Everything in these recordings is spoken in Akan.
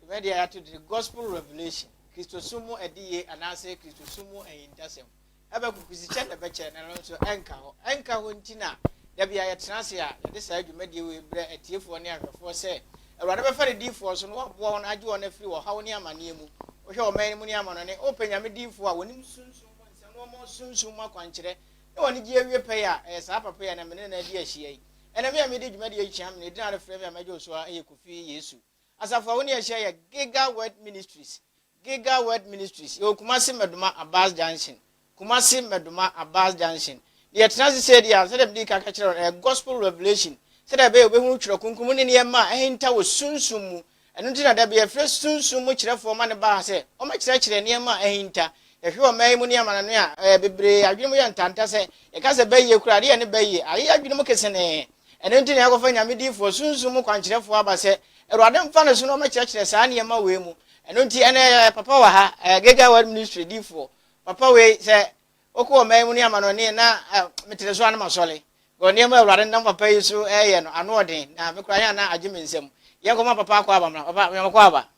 Dwumadi a yɛato din Gospel Revelation, Kristosom mu Adiye anaasɛ Kristosom mu Ahintasɛm, bɛkɔ Kwisikyɛ na ɛbɛkyɛ na ɛno nso ɛnka hɔ. Ɛnka hɔ nti na da biara yɛtena ase a yɛde saa dwumadie wei brɛ atiefoɔ ne ahwɛfoɔ sɛ Awurade bɛfa ne diyifoɔ so na waboa wɔn agye wɔn afiri ɔhaw ne amaneɛ mu. Wohwɛ ɔman no mu ne amanɔne, wopɛ Nyame diyifoɔ a wɔnim sunsum mu nsɛm na wɔma wo sunsum mu akwankyerɛ na w'anigye awie pɛyɛ a, ɛyɛ saa papa yi a na me ne no adi ahyia yi. Ɛnɛ me a medi dwumadie yi kyea me na ɛdin a wɔfrɛ me a mɛgye wo so ara yɛ Kofi Yesu. Asafo a wo ne yɛn hyia yɛ Giga Word Ministries, Giga Word Ministries, yɛwɔ Kumasi Mmɛdoma Abas Junction, Kumasi Mmɛdoma Abas Junction. Na yɛtena ase sɛ deɛ, sɛdeɛ mede ka ka kyerɛ wɔn, ɛyɛ Gospel Revelation, sɛdeɛ ɛbɛyɛ wobɛhunu Twerɛ Kronkron mu ne nneɛma a ahinta wɔ sunsum mu. Ɛno nti na da bi yɛfrɛ sunsum mu kyerɛfoɔ ma no ba ha sɛ wɔmmɛkyerɛkyerɛ nneɛma a ahinta, Yɛhwɛ ɔman yi mu ne amanaman a, ɛ, bebree adwene mu yɛ ntanta sɛ, yɛka sɛ bɛyɛ kura ade yɛ ne bɛyɛ, ayɛ adwene mu kesenee. Ɛno nti na yɛakɔfa nyame difoɔ, sunsum mu kwankyerɛfoɔ aba sɛ, Awurade mfa ne so na ɔmɛkyerɛkyerɛ saa nneɛma wei mu. Ɛno nti, ɛnnɛ yɛwɔ papa wɔ ha, ɛ, Gega Word Ministry difoɔ. Papa wei, sɛ wokɔ ɔman yi mu ne amanɔne na, ɛ, metere so a na masɔle. Because nneɛma a Awurade nam papa yi so reyɛ no, ano ɔden, na me koraa yɛn a na agye me nsam. Yɛnkɔma papa akɔ aba mmra. Papa, meyɔma kɔ aba.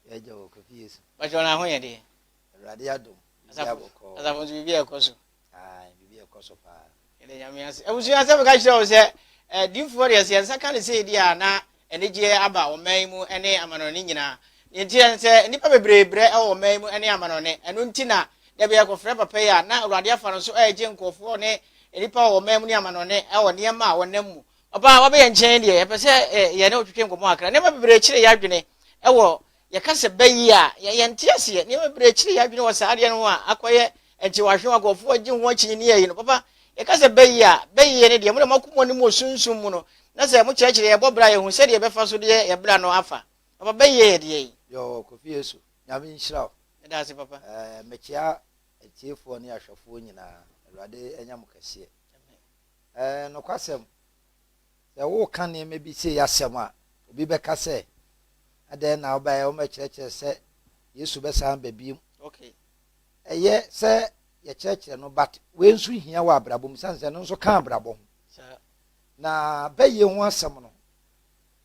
Yɛagya wɔ Kofi Yesu. Bàtchɛ ɔno aho yɛ deɛ. Awurade adom. Asafo asafo nso biribi ɛkɔ so. Ayi biribi ɛkɔ so paa. Yɛde nyame ase. Abusua asɛm ka kyerɛ wo sɛ eh, diifoɔ deɛ sɛ yɛn nsa ka ne sɛ di a na anigyeɛ aba ɔman yi mu ne amanɔne nyinaa. Deɛ nti yɛn sɛ nnipa bebree brɛ wɔ ɔman yi mu ne amanɔne. Ɛno nti na da bi yɛkɔfrɛ papa yi a na Awurade afa no so ɛregye nkurɔfoɔ ne nnipa wɔ ɔman mu ne amanɔne wɔ nneɛma a wɔnam mu. Ɔbaa a wabɛ yɛn nkyɛn deɛ, yɛpɛ sɛ ɛ, yɛ ne wotwetwe nkɔmmɔ kakra. Nneɛma bebree kyere yɛn adwene wɔ yɛka sɛ bɛ yi a, yɛ, yɛnte aseɛ. Nneɛma bebree kyere yɛn adwene wɔ saa adeɛ no ho a akɔyɛ nkyewahwe a nkurɔfoɔ agye ho akyinnyeɛ yi no. Papa, yɛka sɛ bɛ yi a, bɛ yi yɛ ne deɛ, mo na moaku mo anim wɔ sunsum mu no, na sɛ mokyerɛkyerɛ yɛn bɔ berɛ a yɛhu sɛdeɛ yɛbɛfa so deɛ yɛn bra no afa. Papa, bɛ yi yɛ yɛ deɛ yi. Yoo, Kofi Yesu, Nyame nhyira wo. Meda ase, Papa. Ɛɛ, mekyea atiefoɔ ne ahwɛfoɔ nyinaa. Awurade anya mo kɛseɛ. Ɛɛ, nokwasɛm. Sɛ woreka nneɛma bi sei asɛm a, obi bɛka sɛ, Adɛn na wobaeɛ? Wɔmmɛkyerɛkyerɛ sɛ Yesu bɛsan aba bio. Okay. Ɛyɛ sɛ yɛkyerɛkyerɛ no, but wei nso hia wɔ abrabɔ mu, sane sɛ ɛno nso ka abrabɔ ho. Na bɛyɛ ho asɛm no,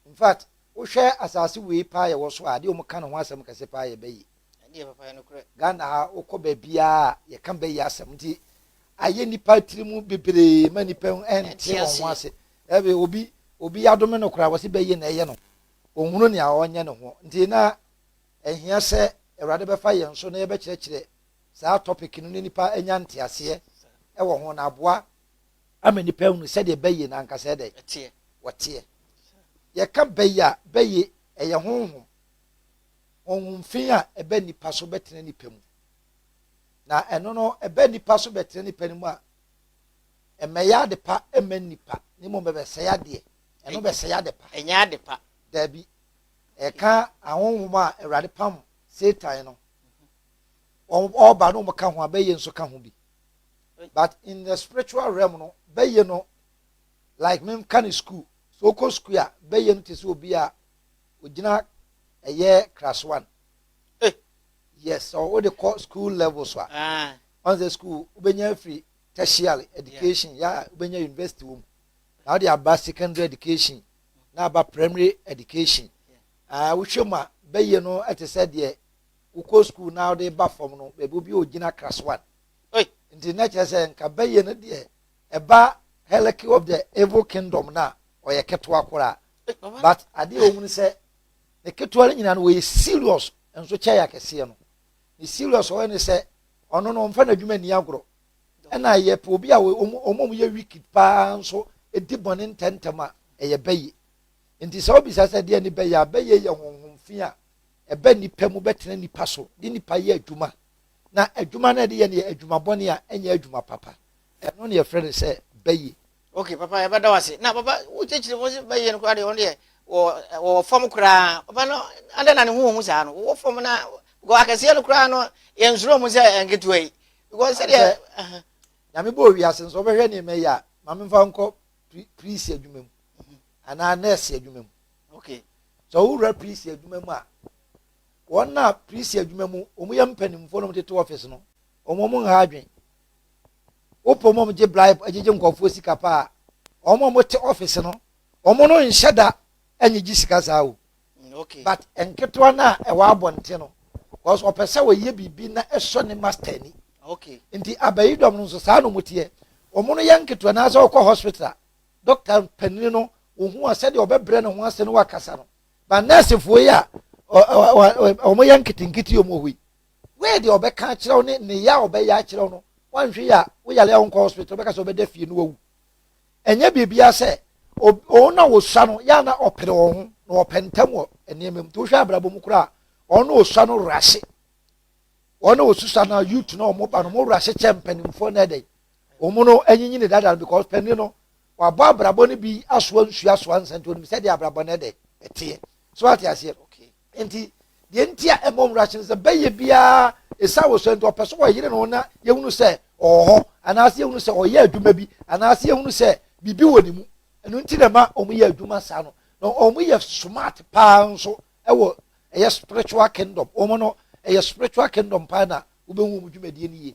in fact, wohwɛ asase wei paa yɛwɔ so a, adeɛ wɔn ka ne ho asɛm kɛse paa yɛ bɛyɛ. Ɛneɛ papa yɛ nokorɛ. Ghana ha wokɔ baabiaa yɛka bɛyi asɛm nti ayɛ nipa tiri mu bebree ma nipa ɛnte wɔn ho ase ɛbi obi obi yadome no koraa wɔsi bɛyi na ɛyɛ no ɔnhunu nea ɔnyɛ ne ho nti na ɛhia sɛ awurade bɛfa yɛn so na yɛbɛkyerɛkyerɛ saa topic no ne nipa anya nteaseɛ ɛwɔ ho na aboa ama nipa hunu sɛdeɛ bɛyi na ankasa ɛdɛ wɔteɛ yɛka bɛyi a bɛyi ɛyɛ honhom honhom fi a ɛba nnipa so bɛtena nnipa mu. Na ɛno no, ɛba nnipa so bɛtena nnipa no mu a, ɛmmɛyɛ adepa mma nnipa, na mmom ɛbɛsɛe adeɛ. Ɛno bɛsɛe adepa. Ɛnyɛ adepa. Daabi. Ɛka ahonhom a Awurade pam Satan no. Mhm. Ɔba no wɔka ho a, bɛyɛ nso ka ho bi. But in the spiritual realm no, bɛyɛ no like menka ne school. So wokɔ school a, bɛyɛ no te sɛ obi a Ogyina ɛyɛ class one eh yes sɛ wode kɔ school level so a ɔn sɛ school wobɛnya afiri tertiary education yɛ a wobɛnya university wɔ mu na wode aba secondary education na aba primary education ah wohwɛ mu a bɛyɛ no ɛte sɛ deɛ wokɔ school na wode ba fam no baabi obi a ogyina class one oi nti na kyerɛ sɛ nka bɛyɛ no deɛ ɛba hierarchy of the evil kingdom na ɔyɛ ketewa koraa but adeɛ ɔmu no sɛ ne ketewa no nyinaa no wɔyɛ serious nso kyɛ yɛ akɛseɛ no ne serious ɔyɛ ne sɛ ɔno no ɔmfa n'adwuma nni agorɔ ɛna yɛpɛ obi a ɔmom yɛ wicked paa nso ɛdi bɔne ntɛntɛm a ɛyɛ bɛye nti sɛ wobisa sɛ deɛ ne bɛyɛ a bɛyɛ yɛ honhom fi a ɛbɛ nnipa mu bɛtena nnipa so de nnipa yɛ adwuma na adwuma no ɛde yɛ no yɛ adwuma bɔne a ɛnyɛ adwuma papa ɛno ne yɛfrɛ no sɛ bɛye Okay papa yɛbɛda wo ase na papa wokyerɛkyerɛ mu sɛ bɛyɛ no koraa deɛ ɔno deɛ wɔwɔ fam koraa papa no adɛn na ne ho wɔ mu saa no wowɔ fam na because akɛseɛ no koraa no yɛnsuro mu sɛ nketewa yi because sɛdeɛ nyame bɔ owiase nso wobɛhwɛ nneɛma yi a ma memfa nkɔ prisi adwuma mu mhm. anaa nɛɛse adwuma mu okay sɛ wowura prisi adwuma mu a wɔn a prisi adwuma mu wɔn yɛ mpanimfoɔ no wɔn tete office no wɔn wɔn nha adwene Wɔpɛ wɔn a wɔgye bribe, gyegye nkurɔfoɔ sika pa ara. Wɔn a wɔte office no, wɔn no nhyɛ da nnyegye sika saa o. Mm, okay. But nketewa no a ɛwɔ abɔnten no, because ɔpɛ sɛ ɔyɛ biribi na ɛsɔ ne master ni. Okay. Nti abayidɔm no nso saa na wɔn teɛ. Wɔn no yɛ nketewa na sɛ ɔkɔ hospital a, doctor panin no wɔhu a sɛdeɛ ɔbɛbrɛ ne ho ase no wakasa no. But nursefoɔ yi a wɔn yɛ nketenkete wɔn wɔ hɔ yi, Wei deɛ ɔbɛka akyerɛ wo ne nneyɛ a ɔbɛyɛ akyerɛ wo no, woanhwɛ yi a, wo yare a wonkɔ hospital, ɔbɛka sɛ ɔbɛda fie na wawu. Ɛnyɛ biribiara sɛ wɔn a wɔsua no yɛ a na ɔpere wɔn ho na wɔpɛ ntam wɔ nneɛma mu. Nti wohwɛ abrabɔ mu koraa a, wɔn a wɔsua no werɛ ase. Wɔn a wɔsusua no youth na wɔn ba no, wɔn werɛ ase kyɛ mpanimfoɔ na ɛdɛn. Wɔn no anyinyini dada no because panin no wabɔ abrabɔ no bi asoa nsuo asoa nsɛnti onim sɛdeɛ abrabɔ no ɛdɛn ɛteɛ. So ate aseɛ? Okay. Nti deɛ nti a ɛmmɔ nwura hye no sɛ bɛyɛ biara ɛsiane wo sɛ nti ɔpɛ so ɔyere no na yɛhunu sɛ ɔwɔ hɔ anaasɛ yɛhunu sɛ ɔyɛ adwuma bi anaasɛ yɛhunu sɛ biribi wɔ ne mu ɛno nti na ɛma wɔn yɛ adwuma saa no na wɔn yɛ smart paa nso ɛwɔ ɛyɛ spiritual kingdom wɔn no ɛyɛ spiritual kingdom paa na wobɛhu wɔn dwumadie no yie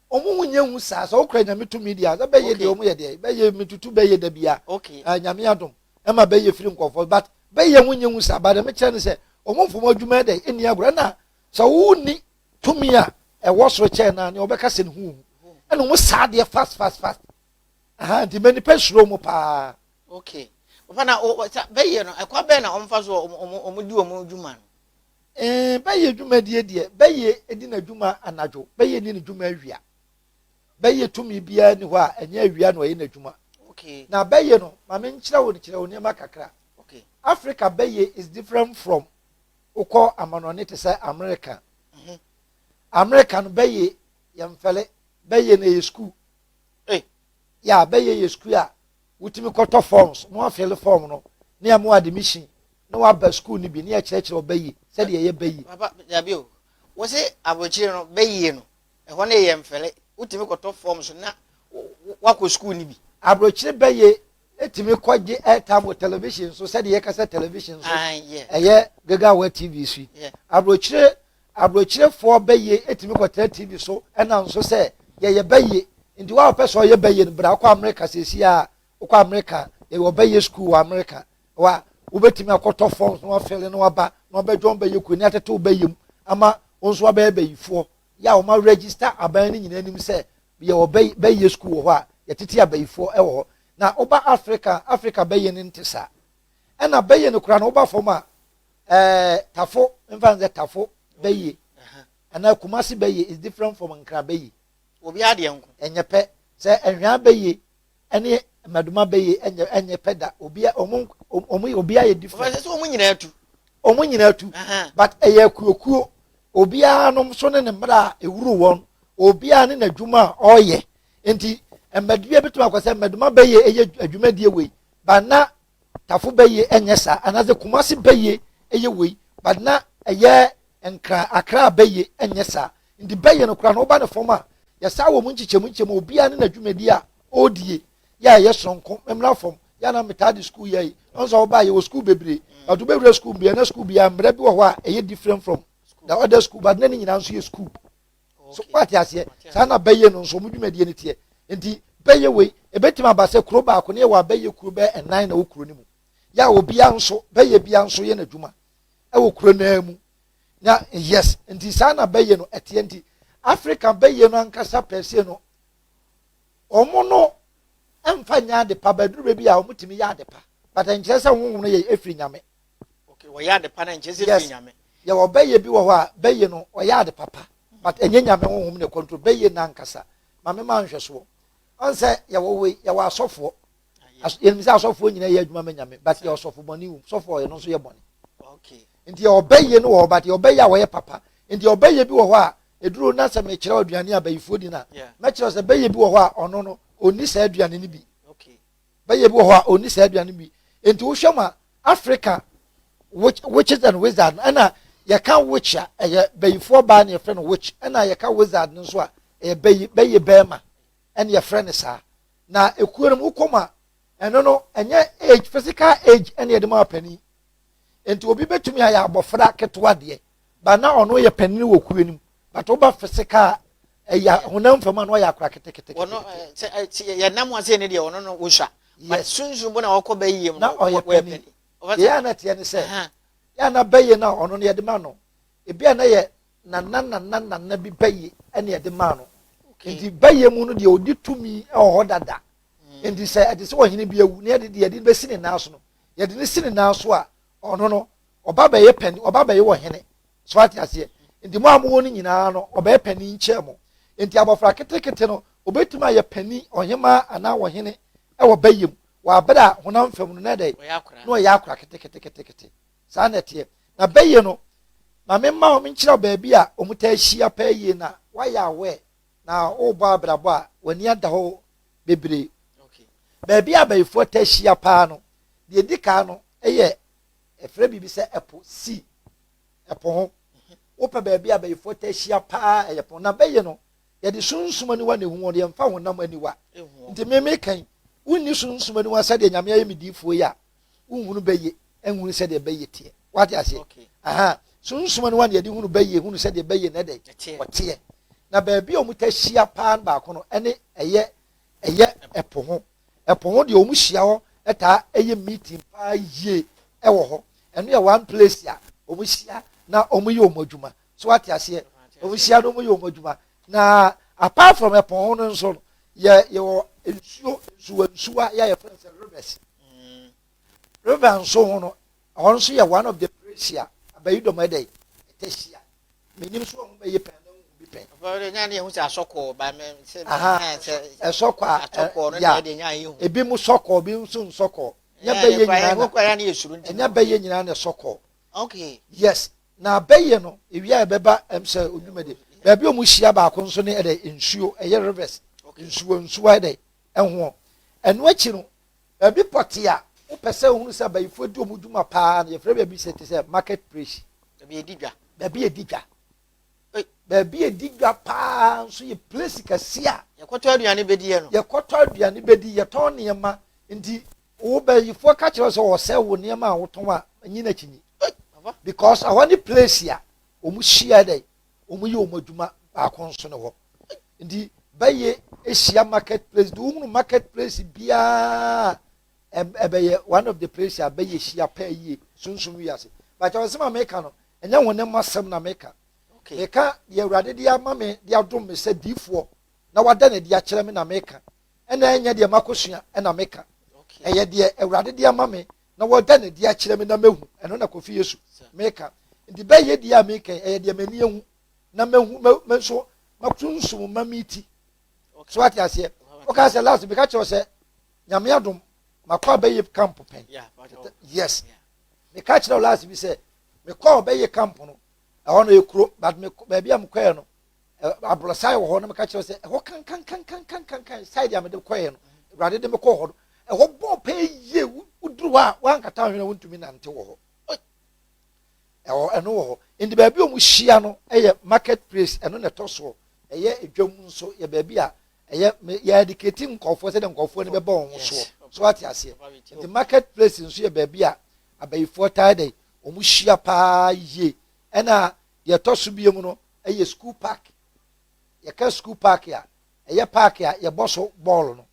Ɔmo ho nyɛ hu saa. Sɛ wokura Nyame tumi deɛ a, sɛ bɛyɛ deɛ ɔmo yɛ deɛ, bɛyɛ metutu bɛyɛ da bia. Okay. Ah, Nyame adom, ɛma bɛyɛ firi nkɔfoɔ. But bɛyɛ ho nyɛ hu saa. But ɛme kyerɛ ne sɛ, ɔmo mfom adwuma yɛ dɛ, ɛnni agorɔ. Ɛna sɛ wo ni tumi a ɛwɔ soro kyɛn no a, nea ɔbɛka sɛ ne ho hu. Ɛna ɔmo saa deɛ fast fast fast. Aha, nti mɛ nipa suro ɔmo paa. Okay. Papa na, o, sa, bɛyɛ no, ɛkwa bɛn na ɔmo fa so ɔmo, ɔmo, ɔmo di ɔmo dwuma no? Ee, bɛyɛ dwumadie deɛ, bɛyɛ di n'adwuma anadwo, bɛyɛ ni ne dwuma awia. Bɛyɛ tumi biara ni hɔ a ɛnyɛ awia na ɔyɛ n'adwuma. Okay. Na bɛyɛ no, ma me nkyerɛ wo kyerɛ wo nneɛma kakra. Okay. Africa bɛyɛ is different from wokɔ amanɔne te sɛ America. Mm -hmm. America no bɛyɛ yɛmfɛle, bɛyɛ na ɛyɛ sukuu. Hey. Ya, bɛyɛ yɛ sukuu a Wotumi kɔtɔ forms na wɔafele form no na yɛama wo admission na woaba sukuu no bi na yɛkyerɛkyerɛ wo bɛyie sɛdeɛ ɛyɛ bɛyie. Papa, dabi o. Wose abrokyire no, bɛyie no, ɛhɔ no yɛ mfele. Wotumi kɔtɔ forms na woakɔ sukuu no bi. Abrokyire bɛyie tumi kɔgye airtime wɔ television so sɛdeɛ yɛka sɛ television so, ɛyɛ Gagawa TV so yi. Abrokyire Aburokyerefoɔ bɛyie tumi kɔtena TV so nam so sɛ yɛyɛ bɛyie. Nti wo a wopɛ sɛ ɔyɛ bɛyie no bra kɔ Amerika seesei ara. Wokɔ Amerika a, yɛwɔ bɛyie sukuu wɔ Amerika hɔ a wobɛtumi akɔtɔ forms na woafele na woaba na wɔabɛdwɔn wo bɛyie kuo na yɛatete wo bɛyie mu ama wo nso woabɛyɛ bɛyifoɔ. Yɛ a wɔma register aban no nyinaa nim sɛ yɛwɔ bɛyie sukuu wɔ hɔ a yɛtete abɛyifoɔ wɔ hɔ. Na woba Afrika a, Afrika bɛyie no nte saa. Ɛna bɛyie no koraa no woba fam a, Ɛɛ tafo nfa nsɛ tafo bɛyie anaa kumasi bɛyie is different from nkra bɛyie. Obi adeɛ nko. Ɛnyɛ pɛ sɛ ɛhwɛn bɛyie ɛne mmaduma bɛyie ɛnyɛ ɛnyɛ pɛ da obi a ɔmo ɔmo obi ayɛ different. Ɔfɛ sɛ ɔmo nyinaa tu. Ɔmo nyinaa tu but ɛyɛ akuokuo obiara nom so ne ne mmerɛ a ewuru wɔn obiara ne n'adwuma a ɔreyɛ nti mmadua bi tuma akɔ sɛ mmaduma bɛyie ɛyɛ adwumadie wei ba na Tafo bɛyɛ ɛnyɛ saa anaasɛ Kumasi bɛyɛ ɛyɛ wei but na ɛyɛ Nkran, Accra bɛyɛ ɛnyɛ saa nti bɛyɛ no koraa no woba ne fam a yɛsaa wɔn nkyekyɛmu nkyekyɛmu obiara ne n'adwumadie a ɔredie yɛ a ɛyɛ soronko me mmra fam yɛ a na metaa de sukuu yɛe ɔno nso a woba yɛwɔ sukuu bebree but wobɛwura sukuu biara na sukuu biara mmara bi wɔ hɔ a ɛyɛ different from the other school but na ne nyinaa nso yɛ sukuu so wate aseɛ saa na bɛyɛ no nso wɔn dwumadie no teɛ nti bɛyɛ wei ebetumi aba sɛ kuro baako ne yɛ wɔ abɛyɛ kuro bɛyɛ ɛnan na wɔ kuro no mu yɛ a obia nso bɛyɛ bia nso yɛ n'adwuma ɛwɔ kuro naa mu na yes nti saa na bɛyɛ no ɛteɛ nti africa bɛyɛ no ankasa pɛsie no wɔn no mfa nyɛ adepa bɛduru baabi a wɔtumi yɛ adepa bata nkyerɛ sɛ wɔn wɔn yɛ efiri nyame wɔyɛ ade pa na nkyɛ sɛ firi nyame yɛ wɔ bɛyɛ bi wɔ hɔ a bɛyɛ no ɔyɛ ade papa but ɛnyɛ nyame honhom ne control bɛyɛ no ankasa ma me ma nhwɛsoɔ ɔn sɛ yɛwɔ wei yɛwɔ asɔfoɔ yɛnim sɛ asɔfoɔ nyina yɛ adwuma ma nyame but yɛ ɔsɔfo bɔne wom sɔfoɔ ɛno nso yɛ bɔne nti yɛ ɔbɛyɛ no wɔ hɔ but yɛ ɔbɛyɛ a wɔyɛ papa nti ɔbɛyɛ bi wɔ hɔ a ɛduru na sɛ mekyerɛ aduane a bayifoɔ di no a mɛkyerɛ sɛ bɛyɛ bi wɔ hɔ a ɔno no ɔnni saa aduane no bi bɛyɛ bi wɔ hɔ a ɔnni saa aduane bi nti wohwɛ mu a africa witches and wizard ɛna yɛka witch a ɛyɛ bayifoɔ baa na yɛfrɛ no witch ɛna yɛka wizard no nso a ɛyɛ bayi bɛyɛ bɛrima ɛna yɛfrɛ no saa na ekuo no mu wokɔ mu a ɛno no ɛnyɛ age physical age ɛna yɛde ma ɔpanin nti obi bɛtumi ayɛ abɔfra ketewa deɛ ba na ɔno yɛ panyin wɔ kuo no mu but woba fisika a ɛyɛ honam fam a na ɔyɛ akora ketekete. wɔn sɛ yɛ nam ase ne deɛ ɔno no wosua but sunsun bo na ɔkɔ bɛ yie mu na ɔyɛ panyin yɛ a na teɛ ne sɛ yɛ a na bɛ yie no a ɔno no yɛde ma no ebi a na yɛ nana nana nana bi bɛ yie ɛna yɛde ma no nti bɛ yie mu no deɛ ɔdi tumi ɛwɔ hɔ dada nti sɛ ɛde sɛ ɔhene bi awu na yɛde deɛ yɛde bɛsi ne nan so no yɛde ne si ne nan so a ɔno no ɔba bɛyɛ pɛni ɔba bɛyɛ wɔ hene so ate aseɛ nti mo a mowɔ no nyinaa no ɔbɛyɛ pɛni nkyɛn mo nti abɔfra ketekete no obetumi ayɛ pɛni ɔhemaa anaa ɔhene ɛwɔ bɛyɛ mu wɔ abere a honam fam no na ɛdɛ na ɔyɛ akora keteketekete saa na ɛteɛ na bɛyɛ no ma me mma wɔn nkyerɛ baabi a wɔn taa hyia pɛɛ yie na wayɛ awɛ na ɔrebɔ abrabɔ a w'ani ada hɔ bebree. Baabi a abayifoɔ taa hyia paa no, deɛ ɛdi kan no yɛ ɛfrɛ biribi sɛ ɛpo si ɛpo ho wopɛ baabi a abayifoɔ taa hyia paa ɛyɛ po na bɛyi no yɛde sunsum aniwa na ehu wɔn yɛmfa honam aniwa nti mmemme kan wonni sunsum aniwa sɛdeɛ nyame ayɛ me diifoɔ yi a wohunu bɛyɛ nhunu sɛdeɛ bɛyɛ teɛ wate aseɛ okay. aha sunsuma no wa ne yɛde hunu bɛyɛ hunu sɛdeɛ bɛyɛ na ɛdɛ ɔteɛ na baabi a wɔn ta hyia paa no baako no ɛne ɛyɛ ɛyɛ ɛpo ho ɛpo ho deɛ wɔn hyia hɔ ɛtaa ɛyɛ meeting paa yie ɛwɔ hɔ ɛno yɛ one place a wɔn hyia na wɔn yɛ wɔn adwuma so wate aseɛ wɔn hyia na wɔn yɛ wɔn adwuma Na apart from ɛpɔn ho no nso no, yɛ yɛwɔ nsuo nsuwa nsuwa yɛ a yɛfrɛ no sɛ rivers. Mm. River nso ho no, ɛhɔ nso yɛ one of the place a abayi dɔm ɛdɛ yi ɛtɛ hyia. Menim so ɔmo bɛyɛ pɛn na ɔmo bi pɛn. Ɔfɔdɛ nya ne ehu sɛ asɔkɔɔ ba mɛ sɛ ɛhɛn sɛ ɛsɔkɔ a asɔkɔɔ no deɛ ɛde nya ehu. Ebi mo sɔkɔɔ ebi nso nsɔkɔɔ. Nya bɛyɛ nyinaa na. Ɛnya bɛyɛ nyinaa na ɛsɔkɔɔ. Okay. Yes. na abɛyɛ no ewia ɛbɛba ɛm sɛ odwuma de baabi a wɔn hyia baako nso ne ɛdɛ nsuo ɛyɛ rivers nsuo nsuo ɛdɛ ɛhoɔ ɛno akyi no baabi pɔte a wopɛ sɛ ohunu sɛ abayifoɔ di wɔn dwuma paa no yɛfrɛ baabi sɛ te sɛ market place baabi yɛdi dwa baabi yɛdi dwa baabi a ɛdi dwa paa nso yɛ plesi kɛseɛ a yɛkɔtɔ aduane bɛdiɛ no yɛkɔtɔ aduane bɛdi yɛtɔn nneɛma nti wo bɛyifoɔ ka kyerɛ sɛ wɔsɛ wo nneɛma a wotɔn a nyi n'akyi nyi because ɛhɔ ne plesi a wɔn hyia dɛ wɔn yɛ wɔn adwuma baako nso ne hɔ nti bɛyɛ ahyia market place de wohunu market place biara ɛbɛyɛ one of the place a bɛyɛ hyia pɛɛ yie sunsun wiase bàtà wɔn sɛ maame ka no Ɛnyɛ hone mu asɛm na meka. Meka deɛ Awurade de ama me de adom me sɛ diyifoɔ na wada no adi akyerɛ me na meka, ɛna ɛnyɛ deɛ makɔsua na meka. Ɛyɛ deɛ Awurade de ama me na wada no adi akyerɛ me na mahu, ɛno na Kofi Yesu meka. Nti bɛ yɛ deɛ a meka yi, ɛyɛ deɛ m'ani ahu na mahu, me nso m'asunsum ma me ti. So wate aseɛ? Wokaa sɛ last meka kyerɛ wo sɛ Nyame adom makɔ abɛyɛ camp pɛn. Yes. Meka kyerɛ wo last bi sɛ mekɔɔ bɛyɛ camp no ɛhɔ no yɛ kuro but me baabi a mekɔɛ no aborɔsan wɔ hɔ na meka kyerɛ sɛ ɛhɔ kankankankankankan side a mede kɔɛ no awurade de mekɔɔ hɔ no ɛhɔ bɔɔ pɛɛ yie woduru hɔ a woankata hwene wontumi nante wɔ hɔ ɛwɔ ɛno wɔ hɔ nti baabi a wɔhyia no yɛ market place ɛno na ɛtɔ soɔ ɛyɛ edwam nso yɛ baabi a ɛyɛ yɛ adikati nkɔfoɔ sɛdeɛ nkɔfoɔ no bɛbɔ wɔn soɔ so ate aseɛ nti market place nso yɛ baabi a abayifoɔ taa dɛ wɔn hyia paa yie ɛna deɛ ɛtɔ so bie mu no ɛyɛ school park yɛka school park a ɛyɛ park a yɛbɔ so bɔɔl no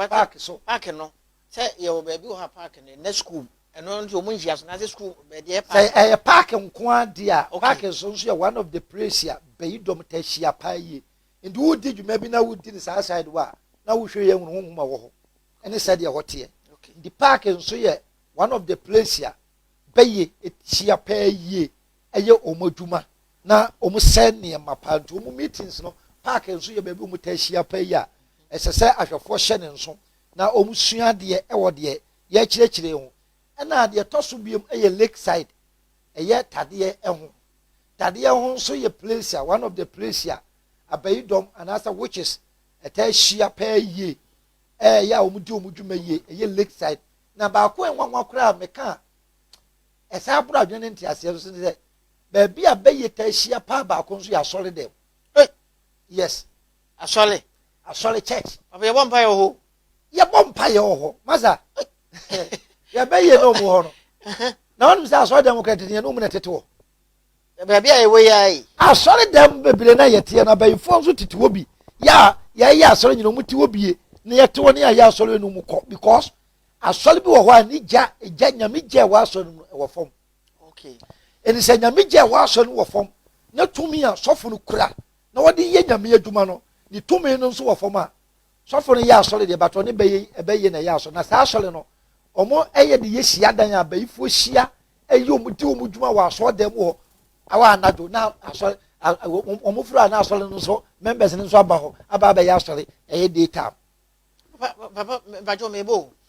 park so park no sɛ yɛwɔ baabi wɔ ha park no ɛnɛ school ɛno nso wɔn nhyia so na sɛ school baabi ɛyɛ park sɛ ɛyɛ park nko adeɛ a okay. park nso nso yɛ one of the place a bɛyi dɔm ta hyia paa yie nti wodi dwuma bi na wodi ne saa side wɔ a na wohwɛ yɛ hunu honhom a wɔ hɔ ɛne sɛdeɛ ɛhɔ teɛ nti park nso yɛ one of the place a bɛyɛ ɛhyia paa yie ɛyɛ wɔn adwuma na wɔn sɛ nneɛma paa nti wɔn meetings no park nso yɛ baabi wɔn taa hyia paa yi a ɛsɛ sɛ ahwɛfoɔ hyɛ ne nso na wɔn sua adeɛ ɛwɔ deɛ yɛkyerɛkyerɛ ho ɛna deɛ ɛtɔ so biom ɛyɛ lake side ɛyɛ tadeɛ ɛho tadeɛ ho nso yɛ place a one of the place a abayi dɔm anaasɛ witches ɛtaa hyia paa yie ɛyɛ a wɔdi wɔn dwuma yie ɛyɛ lakeside na baako a nwanwa koraa a meka a ɛsan aboro adwene ne nteaseɛ nso ne sɛ baabi a bɛyɛ taa hyia paa baako nso yɛ asɔre dɛm yes asɔre asɔre church ɔbɛ yɛbɔ mpa yɛ wɔ hɔ yɛbɔ mpa yɛ wɔ hɔ masa yɛbɛyɛ na ɔmu hɔ no na wɔn sɛ asɔre dɛm kora tete yɛn na ɔmu na tete wɔ Na baabi a yɛwɔ yi ara yi. Asɔredan bebree no a yɛteɛ no, abayifoɔ nso tete hɔ bi. Yɛ a yɛyɛ asɔre nyina ɔmo te hɔ bie na yɛte hɔ na yɛayɛ asɔre yɛ no ɔmo kɔ because asɔre bi wɔ hɔ a ne gya gya nyame gya ɛwɔ asɔre no mu ɛwɔ fam. Okay. Ɛni sɛ nyame gya ɛwɔ asɔre no wɔ fam na tumi a sɔfo no kura na wɔde yɛ nyame adwuma no ne tumi no nso wɔ fam a sɔfo no yɛ asɔre deɛ batɔ ne bɛyɛ ɛbɛyɛ na ɛyɛ asɔre na saa asɔre no wɔn ɛyɛ de yɛ hyia dan a bɛyifoɔ hyia ɛyɛ wɔn di wɔn dwuma wɔ asɔre dan mu hɔ awa anadwo na asɔre wɔn fura na asɔre no nso members no nso aba hɔ aba abɛyɛ asɔre ɛyɛ day time. papa papa bàjọ́ mi bò.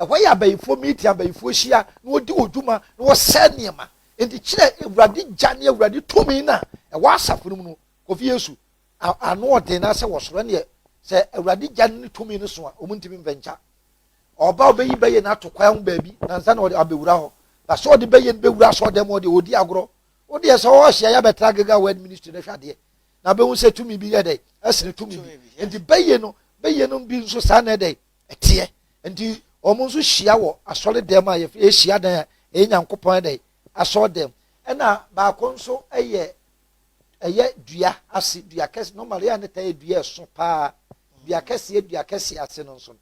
Ɛhɔ yɛ abayifoɔ meeting, abayifoɔ hyia na wɔdi wɔn dwuma na wɔsɛe nneɛma. Enti kyerɛ Awurade gya ne Awurade tumi no a ɛwɔ asafo no mu no. Kofi Yesu a ano ɔden na sɛ wɔ soro ɛneɛ sɛ Awurade gya no ne tumi no so a wɔn ntumi mfɛnkya. Ɔba ɔbɛyi bɛyɛ no ato kwan ho baabi na nsa na ɔde abɛwura hɔ. Na sɛ ɔde bɛyɛ no bɛwura asɔɔdan mu hɔ deɛ ɔdi agorɔ. Wo deɛ sɛ ɔhyia yɛ abɛtra Gilgal Word Ministry no hwɛ adeɛ na bɛhu sɛ tumi bi yɛ dɛn ɛsene tumi bi. Enti bɛyɛ no bɛyɛ no bi nso saa na ɛdɛn. ɛteɛ nti wɔn nso hyia wɔ asɔre dɛm a yɛfrɛ ahyia dan a ɛyɛ nyankopɔn ɛdɛ asɔre dɛm ɛna baako nso ɛyɛ ɛyɛ dua ase dua kɛse no maria ne ta yɛ dua ɛso paa dua kɛseɛ dua kɛseɛ ase no nso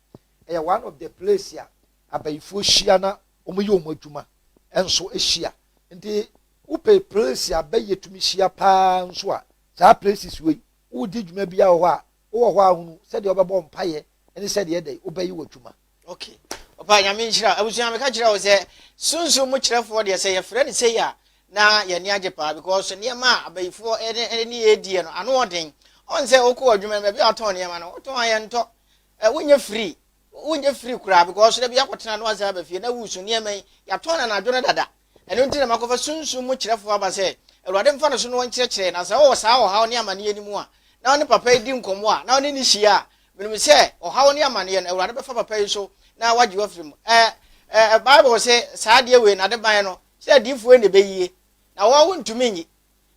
ɛyɛ one of the place a abayifoɔ hyia na wɔn yɛ wɔn adwuma nso hyia nti wopɛ place a bɛyɛ tumi hyia paa nso a saa places wei wodi dwuma bi a wɔ hɔ a wowɔ hɔ a hunu sɛdeɛ wobɛbɔ mpaeɛ ne sɛdeɛ ɛdɛn wobɛyi wɔ dwuma ok papa nyame nhyira abusua meka kyerɛ wo sɛ sunsum mu kyerɛfoɔ deɛ sɛ yɛfrɛ no sei a na yɛne agye paa because nneɛma a abayifoɔ ɛne ne yɛdiɛ no ano ɔden ɔn sɛ wokɔ adwuma no baabi a wɔtɔn nneɛma no wotɔn a yɛntɔ wonyɛ free wonyɛ free koraa because da bi akɔtena no asɛ aba fie na wusu nneɛma yi yɛatɔn no anadwo no dada Ɛno nti na makɔfa sunsum mu kyerɛfo aba sɛ Awurade mfa ne so na ɔnkyerɛkyerɛ yɛn, na sɛ ɔwɔ saa ɔhaw ne amanneɛ no mu a, na ɔne papa yi di nkɔmmɔ a, na ɔne no hyia a, menim sɛ ɔhaw ne amanneɛ no, Awurade bɛfa papa yi so na wagye wo afiri mu. Ɛ, ɛ, ɛ, Bible se, Saa adeɛ wei, n'adeban no, sɛ adiyifoɔ yi na ɛbɛyie, na wɔn ho ntumi nyi,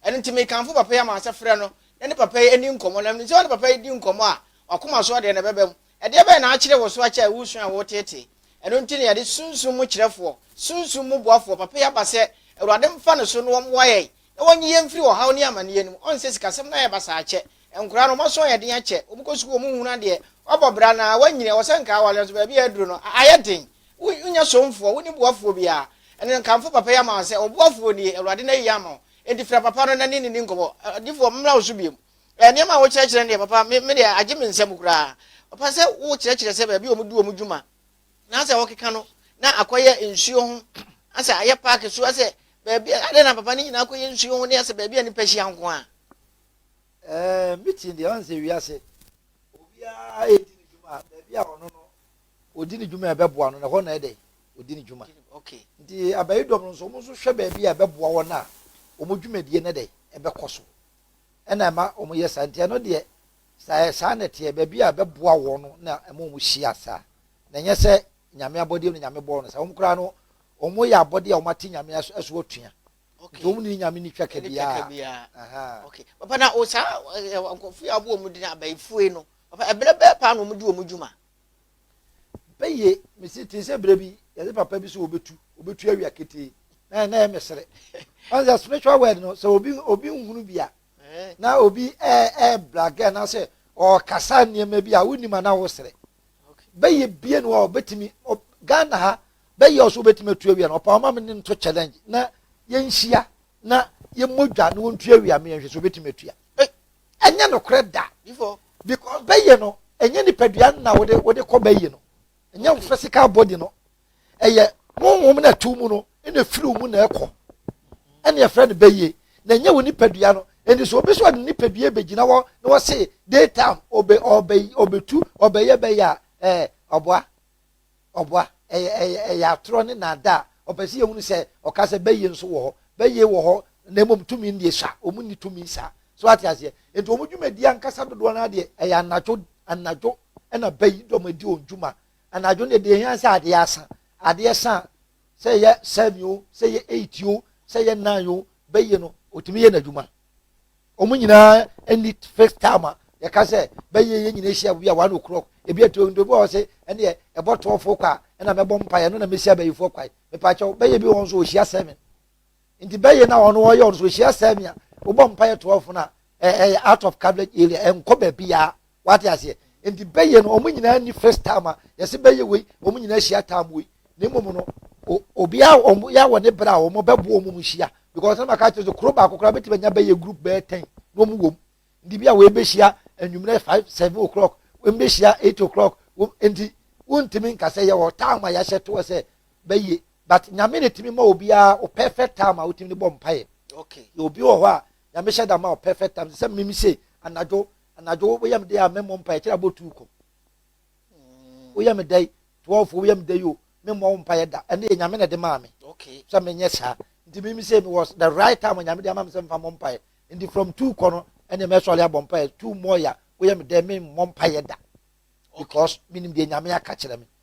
Ɛno nti mekamfo papa yi ama sɛ frɛ no na ne papa yi nni nkɔmmɔ, na menim sɛ wo ne papa yi di nkɔmmɔ a, w'akoma so ɔdeɛ no bɛba mu. Ɛdeɛ bɛn na akyere wo so akyɛ a woresua a woreteetee? Ɛno nti na yɛde Sunsum mu Kyerɛfoɔ, Sunsum mu Boafoɔ, papa yi aba sɛ Awurade mfa no so na ɔmmoa yɛn na ɔnyi yɛn mfiri ɔhaw ne amaneɛ no mu. Ɔnsɛ sikasɛm na yɛba saa kyɛ, Nkwadaa no, wɔaso ayɛ den akyɛ. Wɔkɔ sukuu, wɔhunu adeɛ, wɔabɔ bra na wɔanyini. Ɛwɔ sɛ nka aware nso, baabi a aduru no, ayɛ den. Wonyɛ somfoɔ, wonni boafoɔ biara. Ɛnna nkamfo papa yi ama wo sɛ, 'Ɔboafoɔ nie, Awurade na ayi ama wo. Enti frɛ papa no na ne ne nni nkɔmmɔ. Ɔdefo, memmra wo so bio. Nneɛma a wokyerɛkyerɛ no deɛ, papa, me me deɛ, agye me nsam koraa. Papa, sɛ wokyerɛkyerɛ sɛ baabi a wɔdi wɔn dwuma na asɛ wɔkeka no na akɔyɛ nsuo ho, asɛ ayɛ paake so, asɛ baabi a, adɛn na papa ne nyinaa kɔyɛ nsuo ho ne asɛ baabi a nnipa hyia nko ara? Ɛɛ meeting deɛ ɔn sɛ wiase obiara ɛdi ne dwuma a baabi a ɔno no ɔdi ne dwuma a ɛbɛboa no na ɛhɔ na ɛdɛ ɔdi ne dwuma nti abayi dɔm no nso wɔn nso hwɛ baabi a ɛbɛboa wɔn a wɔn dwumadie no dɛ ɛbɛkɔ so ɛna ɛma wɔn yɛ saa nti ɛno deɛ saa saa na ɛteɛ baabi a ɛbɛboa wɔn no na ɛma wɔn hyia saa na ɛnyɛ sɛ nyame abɔdeɛ no nyame bɔɔ no saa wɔn koraa no wɔn yɛ abɔdeɛ a wɔn ate nyame aso atua Nti wɔn ne nyame ne twa ka biara. Okay. Papa na o saa nkurɔfo yi a wɔbɔ wɔn din abayifue no, papa ɛbrɛ bɛɛ paa na wɔn di wɔn dwuma. Bɛyɛ mesi te sɛ brɛ bi yɛde papa bi so obetu obetu awia ketee na na yɛ mesere. Ɔn sɛ spiritual word no sɛ obi obi nhunu bi a na obi ɛɛ ɛɛ blagɛ na sɛ ɔkasa nneɛma bi a wonim a na wosere. Bɛyɛ bie no a ɔbɛtumi Ghana ha bɛyɛ ɔso wobɛtumi atu awia no ɔpa ɔma me ne no to challenge na yɛnhyia na yɛmmɔ dwa na wɔntu awia me yɛnhwɛ sɛ wobɛtumi atua ɛnyɛ nokorɛ da because bɛyɛ no ɛnyɛ nipadua no na wode wode kɔ bɛyɛ no ɛnyɛ physical body no ɛyɛ honhom na ɛto mu no ɛna ɛfiri mu na ɛkɔ ɛne ɛfrɛ no bɛyɛ na ɛnyɛ wo nipadua no ɛnti so obi so ɔde nipadua bɛgyina hɔ na wɔse daytime ɔbɛtu ɔbɛyɛ bɛyɛ a ɛɛ ɔboa Ɔboa. Ɛyɛ, ɛyɛ, ɛyɛ atorɔ ne nnaadaa. Ɔpɛ sɛ yɛhunu sɛ Ɔka sɛ bɛyɛ nso wɔ hɔ. Bɛyɛ wɔ hɔ, na mmom tumi nnie sa. Wɔnni tumi sa. So woate aseɛ? Enti wɔn dwumadie ankasa dodoɔ no ara deɛ, ɛyɛ anadwo, anadwo na bɛyi dɔm adi wɔn dwuma. Anadwo no deɛ, deɛ ɛhia ne sɛ adeɛ asa. Adeɛ sa a, sɛ ɛyɛ seven o, sɛ ɛyɛ eight o, sɛ ɛyɛ nine o, bɛyɛ no, ɔtumi yɛ n'adwuma. wɔn nyinaa nni fixed time a yɛka sɛ bɛyɛ yɛn nyinaa hyia bi a one o'clock ebi etu ebi wɔ hɔ sɛ ɛneɛ ɛbɔ twelve kɔ a ɛna mɛbɔ mpa yɛ no na mehyia bɛyifoɔ kwae mepaakyɛw bɛyɛ bi wɔn nso wɔhyia seven nti bɛyɛ na wɔn wɔyɛ wɔn nso wɔhyia seven a wɔbɔ mpa yɛ twelve na ɛyɛ out of coverage area ɛnkɔ baabi a wate aseɛ nti bɛyɛ no wɔn nyinaa ni first time a yɛsi bɛyɛ wei wɔn nyinaa hyia time wei na mmom no obiara wɔn yɛ wɔ ne bere a wɔn bɛbo wɔn mu hyia because ɛna maka kyerɛ sɛ kuro baako koraa bɛtumi anya bɛyɛ group bɛyɛ ten na wɔn wɔ mu nti bi a wɔn bɛhyia anwummerɛ five seven o'clock wɔn bɛhyia eight o'clock wɔn nti wontumi nkasa yɛ wɔ time a yɛahyɛ toɔ sɛ bɛyɛ but nyame ne tumi ma obiara o perfect time a wotumi de bɔ mpaeɛ okay obi wɔ hɔ a nyame hyɛ da ma o perfect time sɛ mimi se anadwo Anadwo woyɛ me dɛ a memmɔ mpaeɛ kyerɛ abɔ tuu kɔ. Woyɛ me dɛ twelve woyɛ me dɛ yo memmɔ wo mpaeɛ da. Ɛno yɛ Nyame na ɛde maa me sɛ menyɛ saa. Nti mimi sɛ me was the right time Nyame de ama me sɛ mfa mmɔ mpaeɛ. Nti from two kɔ no ɛne mɛsɔre abɔ mpaeɛ. Two mɔɔ ya woyɛ me dɛ memmɔ mpaeɛ da because menim deɛ Nyame aka kyerɛ me.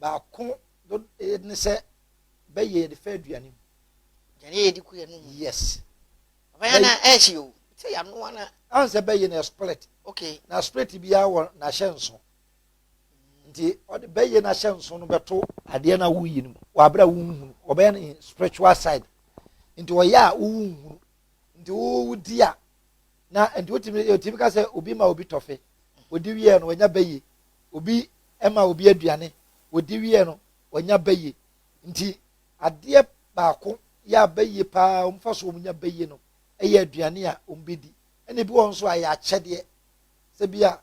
baako do eh, ne sɛ bɛyɛ yɛde fɛ aduane mu. Aduane yɛ yɛde ku yɛn mu. Yes. Bɛyɛ na ɛhye eh, o. Sɛ yanoa na. Ahun sɛ bɛyɛ na split. Okay. Na split biara wɔ n'ahyɛ nso. Nti ɔde bɛyɛ n'ahyɛ nso no bɛto adeɛ na woyi no mu. Wɔ abere a wonhunu. Ɔbɛyɛ no spiritual side. Nti ɔyɛ a wonhunu. Nti wodi a. Na nti wotumi yɛtumi ka sɛ obi ma obi tɔfe, odi wieɛ no wanya bɛ yie. Obi ma obi aduane, odi wieɛ no wanya bɛ yie. Nti adeɛ baako yɛ a bɛ yie paa wɔn fa so wɔn nya bɛ yie no yɛ aduane a wɔn bɛ di. Ɛna ebi wɔ hɔ nso a ɛyɛ akyɛdeɛ. Sɛ bi a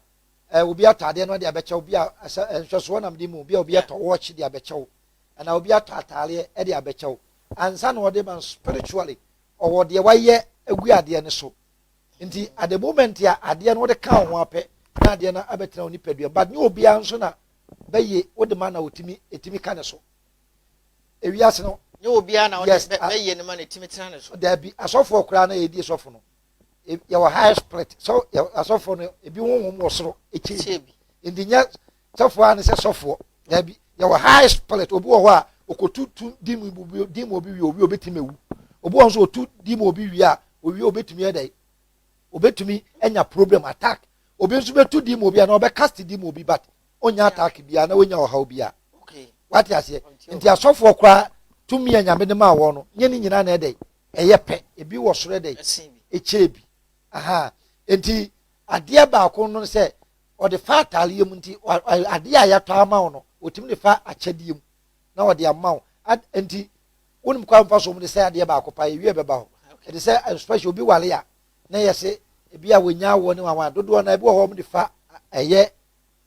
ɛɛ obi ataadeɛ no ɔde abɛkyɛw, bi a ɛsɛ nhwɛsoɔ nam de mu, bi a obi atɔ wɔɔkye de abɛkyɛw, ɛna obi atɔ ataadeɛ de abɛkyɛw. Ansa na ɔde ma no spiritually ɔwɔ deɛ wayɛ agu adeɛ no so nti at the moment a adeɛ no wode ka wo ho apɛ na adeɛ no abɛtena wo nipadua but nyɛ obiara nso na bɛyɛ wode ma na ɔtumi ɛtumi ka ne so ewiase no nyɛ obiara na wode bɛyɛ no ma na ɛtumi tena ne so daabi asɔfoɔ koraa na yɛdi sɔfo no yɛwɔ high split so asɔfoɔ no ebi honhom wɔ soro ɛkyɛ bi nti nyɛ Sɔfo a ne sɛ sɔfoɔ. Dabi, yɛwɔ high spirit. Obi wɔ hɔ a okotu tu di mu obi di mu obi wie owie obetumi ewu. Obi wɔ hɔ nso otu di mu obi wie a owie obetumi yɛ dɛ. Obetumi anya problem attack. Obi nso betu di mu obi a na ɔbɛ cast di mu obi but onya attack bi a na onya ɔhaw bi a. Wate aseɛ? Nti asɔfoɔ koraa tumi a nyame de maa wɔn no nyɛ ne nyinaa na ɛdɛ ɛyɛ pɛ. Ebi wɔ soro ɛdɛ ekyɛɛ bi. Aha. Nti adeɛ baako no sɛ. ɔde fa ataareɛ mu nti adeɛ a yɛatɔ ama wo no ɔtumi de fa akyɛdeɛ mu na ɔde ama wo nti wonim kwan mfa so mu de sɛ adeɛ baako pa yɛwie bɛba hɔ ɛde sɛ especially obi wale a na yɛ se ebi a wɔnya awoɔ ne wawa dodoɔ na ebi wɔ hɔ wɔn de fa ɛyɛ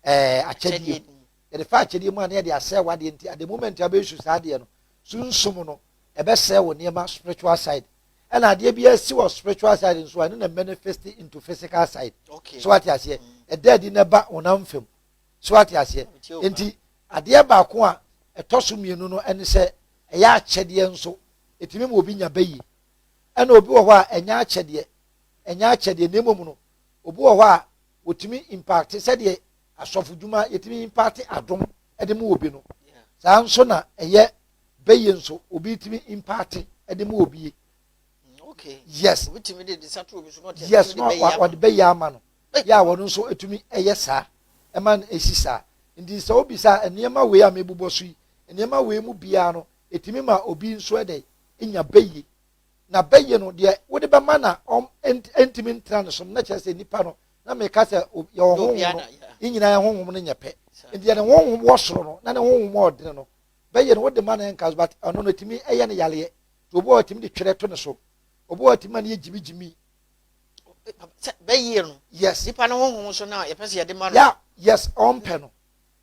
ɛɛ akyɛdeɛ mu yɛde fa akyɛdeɛ mu a na yɛde asɛ wadeɛ nti at the moment a bɛyɛ su saa adeɛ no sunsum no ɛbɛsɛ wɔ nneɛma spiritual side ɛna adeɛ bi asi wɔ spiritual side nso a ɛno na manifest into physical side so wate aseɛ ɛda adi na ɛba honam fam so wate aseɛ nti adeɛ baako a ɛtɔ so mmienu no ɛne sɛ ɛyɛ akyɛdeɛ nso ɛtumi ma obi nya bɛyi ɛna obi wɔ hɔ a ɛnyɛ akyɛdeɛ ɛnyɛ akyɛdeɛ na mmom no obi wɔ hɔ a wɔtumi impacte sɛdeɛ asɔfodwuma yɛtumi impacte adom de ma obi no, saa nso na ɛyɛ bɛyɛ nso obi tumi impaate de ma obi. Okay. Yes. Obi tumi de de sa to obi so na ɔte yes na ɔde bɛyɛ ama no. Yɛ a wɔn nso tumi yɛ saa ɛma no esi saa. Nti sɛ obi sa nneɛma wei a mebobɔ so yi nneɛma wei mu biara no etumi ma obi nso ɛdɛ enya bɛyɛ. na bɛyɛ no deɛ wode bɛma na ɔm ɛntimi ntra no som na kyerɛ sɛ nipa no na meka sɛ yɛ wɔ honhom no ne nyinaa yɛ honhom no nyɛ pɛ nti yɛ ne honhom wɔ soro no na ne honhom a ɔdene no bɛyɛ no wode ma no ɛnka so but ɔno no ɛtumi ɛyɛ no yareɛ nti obi wɔ ɛtumi de twerɛ to ne so obi wɔ ɛtumi ma no yɛ gyimi gyimi bɛyɛ no yes nipa no honhom so na yɛpɛ sɛ yɛde ma no yeah yes ɔmpɛ no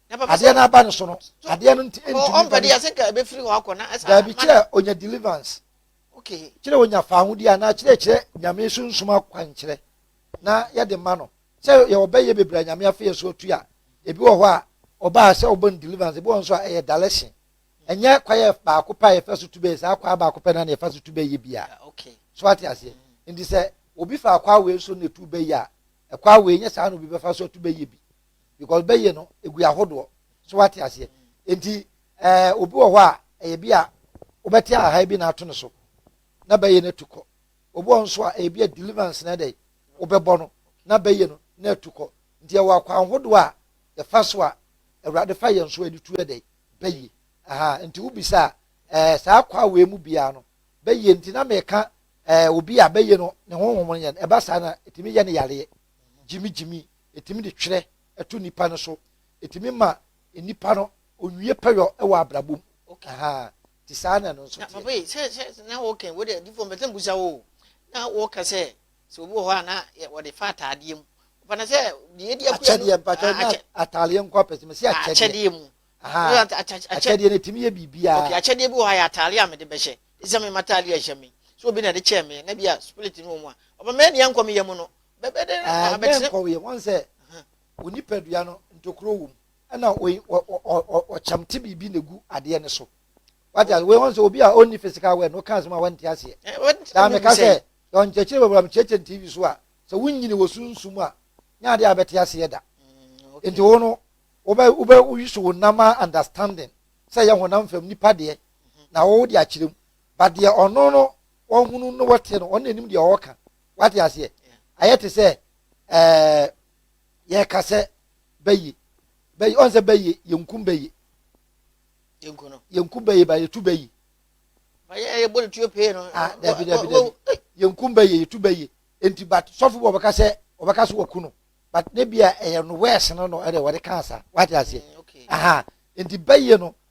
Adeɛ no aba ne so no, adeɛ no nti ntumi ba ne mu. Daabi, kyerɛ ɔnya deliverance. Kyerɛ ɔnya fawodeɛ anaa kyerɛ kyerɛ Nyame sunsum akwankyerɛ na yɛde ma no. Sɛ yɛwɔ bɛyɛ bebree a Nyame afa yɛ so atu a, ebi wɔ hɔ a ɔbaa sɛ ɔbɔ no deliverance, ebi wɔ nso a ɛyɛ dalɛhye. Ɛnyɛ kwaeɛ baako pɛ a yɛfa so tu bɛyɛ, saa kwaa baako pɛ no na yɛfa so tu bɛyɛ bia. So wate aseɛ? Nti sɛ obi fa kwaa wei so na ɛtu bɛyɛ a, kwaa wei nyɛ saa na obi bɛfa so atu bɛyɛ bi. because bɛyɛ no egu ahodoɔ so wate aseɛ nti ɛɛ eh, obi wɔ hɔ a ɛyɛ bi a wobɛte aha bi na ato no so na bɛyɛ no atu kɔ obi wɔ nso a ɛyɛ bi a deliverance na ɛdɛ wobɛbɔ no na bɛyɛ no na atu kɔ nti ɛwɔ akwan ahodoɔ a yɛfa so a awurade fa yɛn so ɛde tu ɛdɛ bɛyɛ aha nti wobisa ɛɛ eh, saa kwa wei mu biara no bɛyɛ nti na mɛka ɛɛ eh, obi a bɛyɛ no ne honhom yɛn ɛba saa na ɛtumi yɛ no yareɛ gyimigyimi etumi de twerɛ to nnipa no so, etumi ma nnipa no onwie pɛyɔ wɔ abrabɔ mu. Okay. Aha, ti saa na ɛno nso teɛ. Na papa yi sɛ sɛ na wɔkɛn wo dɛ difo mpɛsɛ mbusa wo na wɔka sɛ sɛ obi wɔ hɔ a na wɔde fa ataadeɛ mu papa na sɛ deɛ edi akuya no akyɛdeɛ mpatwa ah, na ataadeɛ nko apɛsɛ mɛ si ah, akyɛdeɛ akyɛdeɛ mu akyɛdeɛ no etimi yɛ biribiara okay akyɛdeɛ bi wɔ ha yɛ ataadeɛ a mɛde bɛhyɛ ɛsɛ mɛ ma ataadeɛ ɛhyɛ mi so obi na ɛde kyɛn mi na bi a spirit no wɔ mu a ɔbɛn mɛ ni ankɔ mi yɛ mu no Yɛnkɔ wieɛ, wahu sɛ wo nipadua no ntokuro wɔ mu ɛna ɔkyɛm te biribi na ɛgu adeɛ no so wate ase wɔn sɛ obi a ɔnni physical word na ɔka asɛm a wɔnte aseɛ daa meka sɛ ɔnkyɛkyerɛ bɛbura mekyerɛkyerɛ no tv so a sɛ wonyini wɔ sunsum a nyɛ adeɛ a bɛte aseɛ da nti wo no wobɛ wobɛ woyi so wo nam a understanding sɛ yɛ honam fam nipa deɛ na wɔwɔ de akyerɛ mu ba deɛ ɔno no wɔhunu no wɔteɛ no ɔno anim deɛ ɔwɔ ka wate aseɛ ayɛ te sɛ ɛɛ yɛka sɛ bɛyi bɛyi ɔn sɛ bɛyi yɛnkum bɛyi yɛnkum bɛyi ba yɛtu bɛyi yɛbɔ ne tuo pee no ah, dabi dabi dabi yɛnkum bɛyi yɛtu bɛyi nti but sɔfo bɔ ɔbɛka sɛ ɔbɛka sɛ wɔku no but ne bi a ɛyɛ no wɛɛs no no ɛdɛ wɔde ka asa wate aseɛ mm, aha nti bɛyi no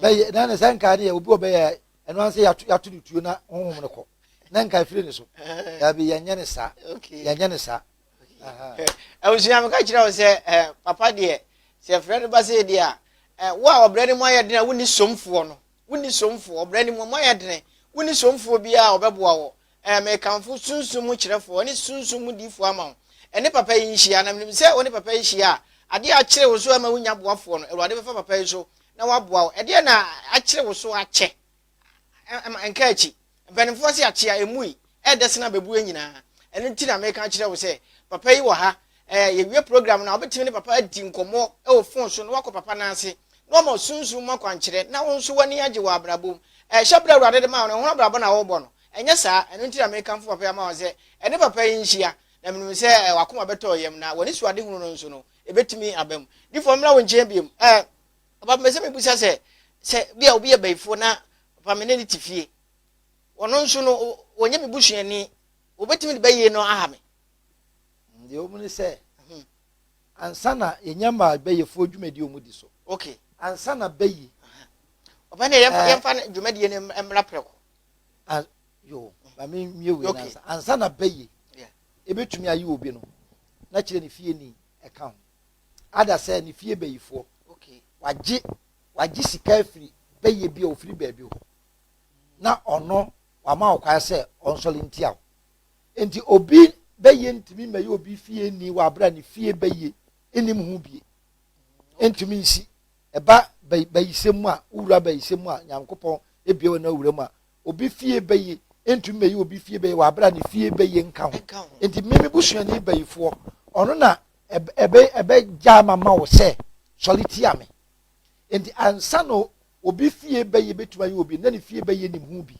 bɛyɛ na ne sɛ nka deɛ obi ɔbɛyɛ ɛno ansa yɛato no tuo na honhom no kɔ na nka ɛfiri ne so daabi yɛnyɛ ne saa yɛnyɛ ne saa abusua meka kyerɛ wo sɛ eh, papa deɛ sɛ frɛ no ba sɛ deɛ a eh, wo a ɔbrɛ no mu ayɛ dene a wonni somfoɔ no wonni somfoɔ ɔbrɛ no mu mu ayɛ dene wonni somfoɔ biara a ɔbɛboa wɔ Ɛɛ, mekamfo sunsum mu kyerɛfoɔ ne sunsum mu diifoɔ ama wo. Ɛne papa yi nhyia, na menim sɛ wo ne papa yi hyia a, adeɛ a akyere wo so ama wonnya boafoɔ no, Awurade bɛfa papa yi so na waboa wo. Ɛdeɛn na akyere wo so akyɛ? Ɛma nka akyi. Mpanimfoɔ se akyea ɛmmui, ɛɛdɛ sene abɛbuo nyinaa. Ɛno nti na meka akyerɛ wo sɛ papa yi wɔ ha. Ɛɛ, yɛwie program no a, wobɛtumi ne papa adi nkɔmmɔ wɔ fon so na woakɔ papa nan ase na wama wo sunsum mu akwankyerɛ na wo nso w'ani agye wɔ abrabɔ mu. Ɛɛ, hyɛberɛ a Awurade de maa wo no, ɛho abrabɔ na worebɔ no. Ɛnyɛ saa? Ɛno nti na mekamfo papa yi ama wɔn sɛ, Ɛne papa yi nhyia, na menim sɛ w'akoma bɛtɔ yam, na w'anisoadehunu no nso no, ɛbɛtumi aba mu. Difoɔ, memmra wo nkyɛn bio? Ɛ? Papa, mepɛ sɛ mebisa sɛ, sɛ ebia obi yɛ bayifoɔ na, papa, me ne no te fie, ɔno nso no, ɔnyɛ me busuani, wɔbɛtumi de bayie no aha me? Deɛ ɛwɔ mu ne sɛ, ansa na yɛnya maa bayifoɔ dwumadie a wɔdi so, ansa na bayi. Papa, ɛnneɛ yɛmfa dwumadie no mmra prɛko. a yo ma me nwie wei okay. nansa ansa na bɛyɛ yeah. ebetumi ayi obi no na kyerɛ ne fie ni ɛka ho ada sɛ ne fie bɛyifoɔ okay. wagye wagye sika afiri bɛyɛ bi a ofiri baabi hɔ na ɔno wama ɔkwan sɛ ɔnsɔre ntia o nti obi bɛyɛ ntumi mɛyɛ obi fie ni wɔ abira ne fie bɛyɛ enim ho bie ntumi nsi Ɛba bayi bayisɛm mu a, wowura bayisɛm mu a, Nyankopɔn ebia wɔn na wura mu a, obi fie bayi ntumi mɛyi obi fie bayi wɔ abere a ne fie bayi nka ho. Nti me me busuani bayifoɔ, ɔno na ɛbɛ ɛbɛ gyaa ma ma wo sɛ sɔre tia me. Nti ansa na obi fie bayi bɛtumi ayɛ obi, na ne fie bayi nim ho bi.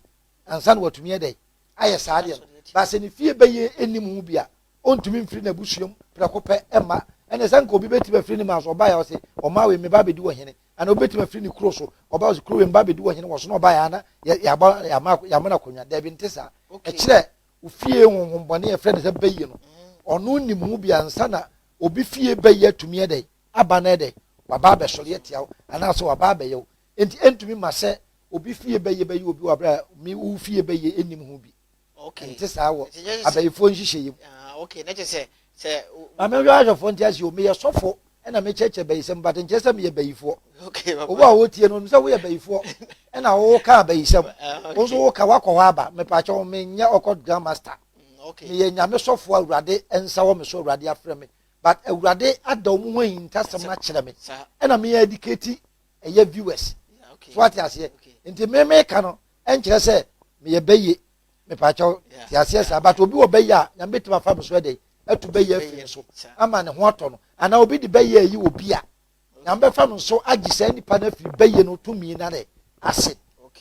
Ansa na watumi yɛ dɛ ayɛ saa deɛ no. Baasɛ ne fie bayi nim ho bi a, Ontumi mfiri n'abusua mu prɛko pɛ mma. Ɛnneɛ sɛ anka obi bɛtumi afiri ne man so, ɔbaeɛ a ɔse, Ɔman wei, meba abɛdi ɔhene. Anaa obi bɛtumi afiri ne kuro so, ɔba ɔse, Kuro wei, meba abɛdi ɔhene. Wɔso na ɔbaeɛ a na yɛama no akonnwa. Daabi, nte saa. Ɛkyerɛ, wo fie honhommɔne a yɛfrɛ no sɛ bayie no, ɔno nnim ho biara. Ansa na obi fie bayie atumi ayɛ dɛn aba no, ɛyɛ dɛn? Waba abɛsɔre atia wo, anaasɛ waba abɛyɛ wo. Enti ɛntumi mma sɛ obi fie bayie bɛyɛ obi wɔ berɛ a wo fie bayie nnim ho bi. Ɛnte saa wɔ abayifoɔ nhyehyɛeɛ mu. Maame nhwɛ ahwɛfoɔ nte aseɛ o, meyɛ sɔfo ɛna mekyerɛkyerɛ bayisɛm but nkyerɛ sɛ meyɛ bayifoɔ. Obu a wotie no, onim sɛ woyɛ bayifoɔ ɛna woka abayisɛm. Wo nso woka wakɔ hɔ aba. Mepakyɛ wo menyɛ ɔkɔ Grand Master. Meyɛ Nyame sɔfo a Awurade nsa wɔ me so, Awurade afrɛ me. But Awurade ada wɔn ho ahintasɛm no akyerɛ me ɛna me educate ɛyɛ viewers. So ate aseɛ? Nti me meka no ɛnkyerɛ sɛ meyɛ bɛyɛ mepaakyɛw te aseɛ saa but obi wɔ bɛyɛ a nyame bɛtumi afa no so ɛdɛ atu bɛyɛ afie so ama ne ho atɔ no anaa obi de bɛyɛ ayi wɔ bi a nyame bɛfa no so agye saa nipa no afiri bɛyɛ no tumi na ne ase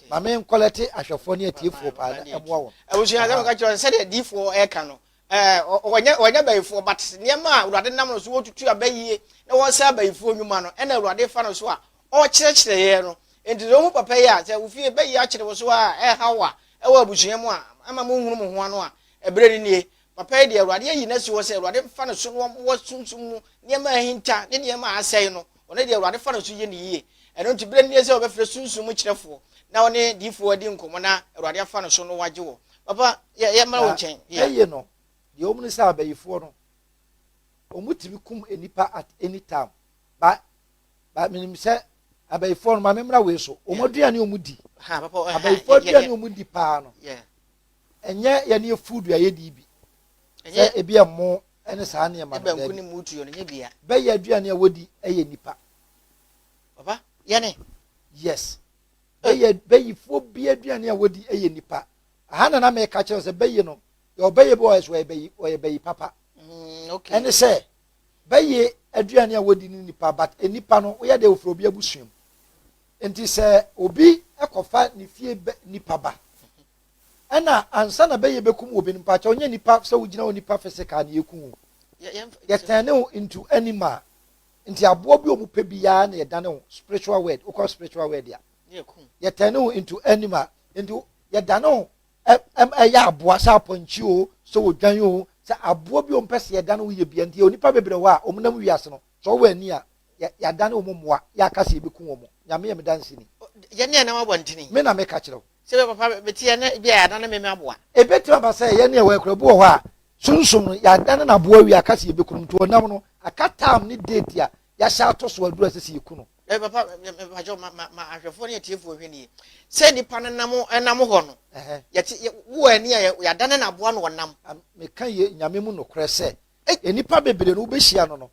ma me nkɔlɛte ahwɛfoɔ ne atiefoɔ paa na ɛmoa wɔn abusua asɛm ka kyerɛ sɛdeɛ diifoɔ ɛka no Ɛɛ, wɔnyɛ wɔnyɛ bayifoɔ, but nneɛma a Awurade nam no so wɔtutu aba yie na wɔsɛe abayifoɔ nnwuma no, ɛna Awurade fa no so a ɔrekyerɛkyerɛ yɛn no. Enti sɛ wohu papa yi a, sɛ wo fie bayi akyere wo so ara a, ɛreha wo a, ɛwɔ abusua mu a, ɛma monhunu mo ho ano a, ɛberɛ no nie. Papa yi deɛ, Awurade ayi no asi hɔ sɛ Awurade mfa ne so na wɔmmɔ sunsum mu nneɛma a ahinta ne nneɛma a asɛe no Ɔno deɛ Awurade fa no so yɛ no yie. Ɛno nti berɛ no nie sɛ wɔbɛfrɛ sunsum mu kyerɛfoɔ na ɔne diyifoɔ adi nkɔmmɔ na Awurade afa no so no wagye wɔ. Papa, yɛ, yɛmmra wo nkyɛn. Na Yeah. ɛye no, deɛ wɔm ne sɛ abayifoɔ no, wɔtumi kum nnipa at any time. Ba, ba, menim sɛ abayifoɔ no, ma memmra wei so, wɔn Yeah. aduane a wɔdi, Ha, papa, ɔ, ha, abayifoɔ yɛ, yɛ, aduane yɛ, a wɔdi paa no, yeah. Ɛnyɛ yɛ ne yɛ food a yɛdi bi. Sɛ ebi yɛ mmo ne saa nneɛma no daabi. ne mmo tuo no nyɛ bia. Bɛyɛ aduane a wɔdi yɛ nipa. Papa, yɛne? Yes. Bɛyɛ bɛyifoɔ bi aduane a wɔdi yɛ nipa. Aha na na meka kyerɛ sɛ bɛyi no yɛ ɔbɛyɛ bi ɔyɛ so ɔyɛ bɛyi ɔyɛ bɛyi papa. Mm, okay. Ɛne sɛ bɛyɛ aduane a wɔdi ne nipa but nipa no woyɛ deɛ ofiri obi abusua mu. Enti sɛ obi kɔfa ne fie nipa ba ɛna ansa na bɛyɛ bɛkum obi no mpakyɛw nyɛ nipa sɛ wogyina hɔ nipa physical na yɛku wo yɛtɛne wo into animal nti aboɔ bi ɔmu pɛ biara na yɛdane wo spiritual word wokɔ spiritual word a yɛtɛne wo into animal nti yɛdane wo ɛyɛ aboa sɛ apɔnkye o sɛ odwan o sɛ aboɔ bi ɔmpɛ sɛ yɛdane wo yɛ bia nti yɛ onipa bebrɛ hɔ a ɔmunam wiase no Sɛ ɔwɔ ani a, yɛ, yɛadane wɔn mmoa, yɛaka sɛ yɛbɛku wɔn. Nyame yɛ me danseni. O, yɛ ne ɛnam abɔntene. Me na meka kyerɛ wo. Sɛ ebia papa, mete yɛ na ebia yɛadane me, me aboa. Ɛbɛtumi aba sɛ yɛ ne ɛwɔ ɛkura bi wɔ hɔ a, Sunsum no, yɛadane no aboa awie, aka sɛ yɛbɛku no. Nti ɔnam no, aka time ne date a yɛahyɛ ato so aduru a ɛsɛ sɛ yɛku no. Dabi papa, me, me, mepa kyɛw, ma, ma, ma ahwɛfoɔ ne atiefoɔ nhwɛ nie. Sɛ nnipa no nam, ɛnam hɔ no, Ɛhɛ. yɛte, yɛ, wowɔ ani a, yɛ, yɛadane no aboa na ɔnam. Am, meka yɛ Nyame mu nokorɛ sɛ, Ei nnipa bebree no wobɛhyia no no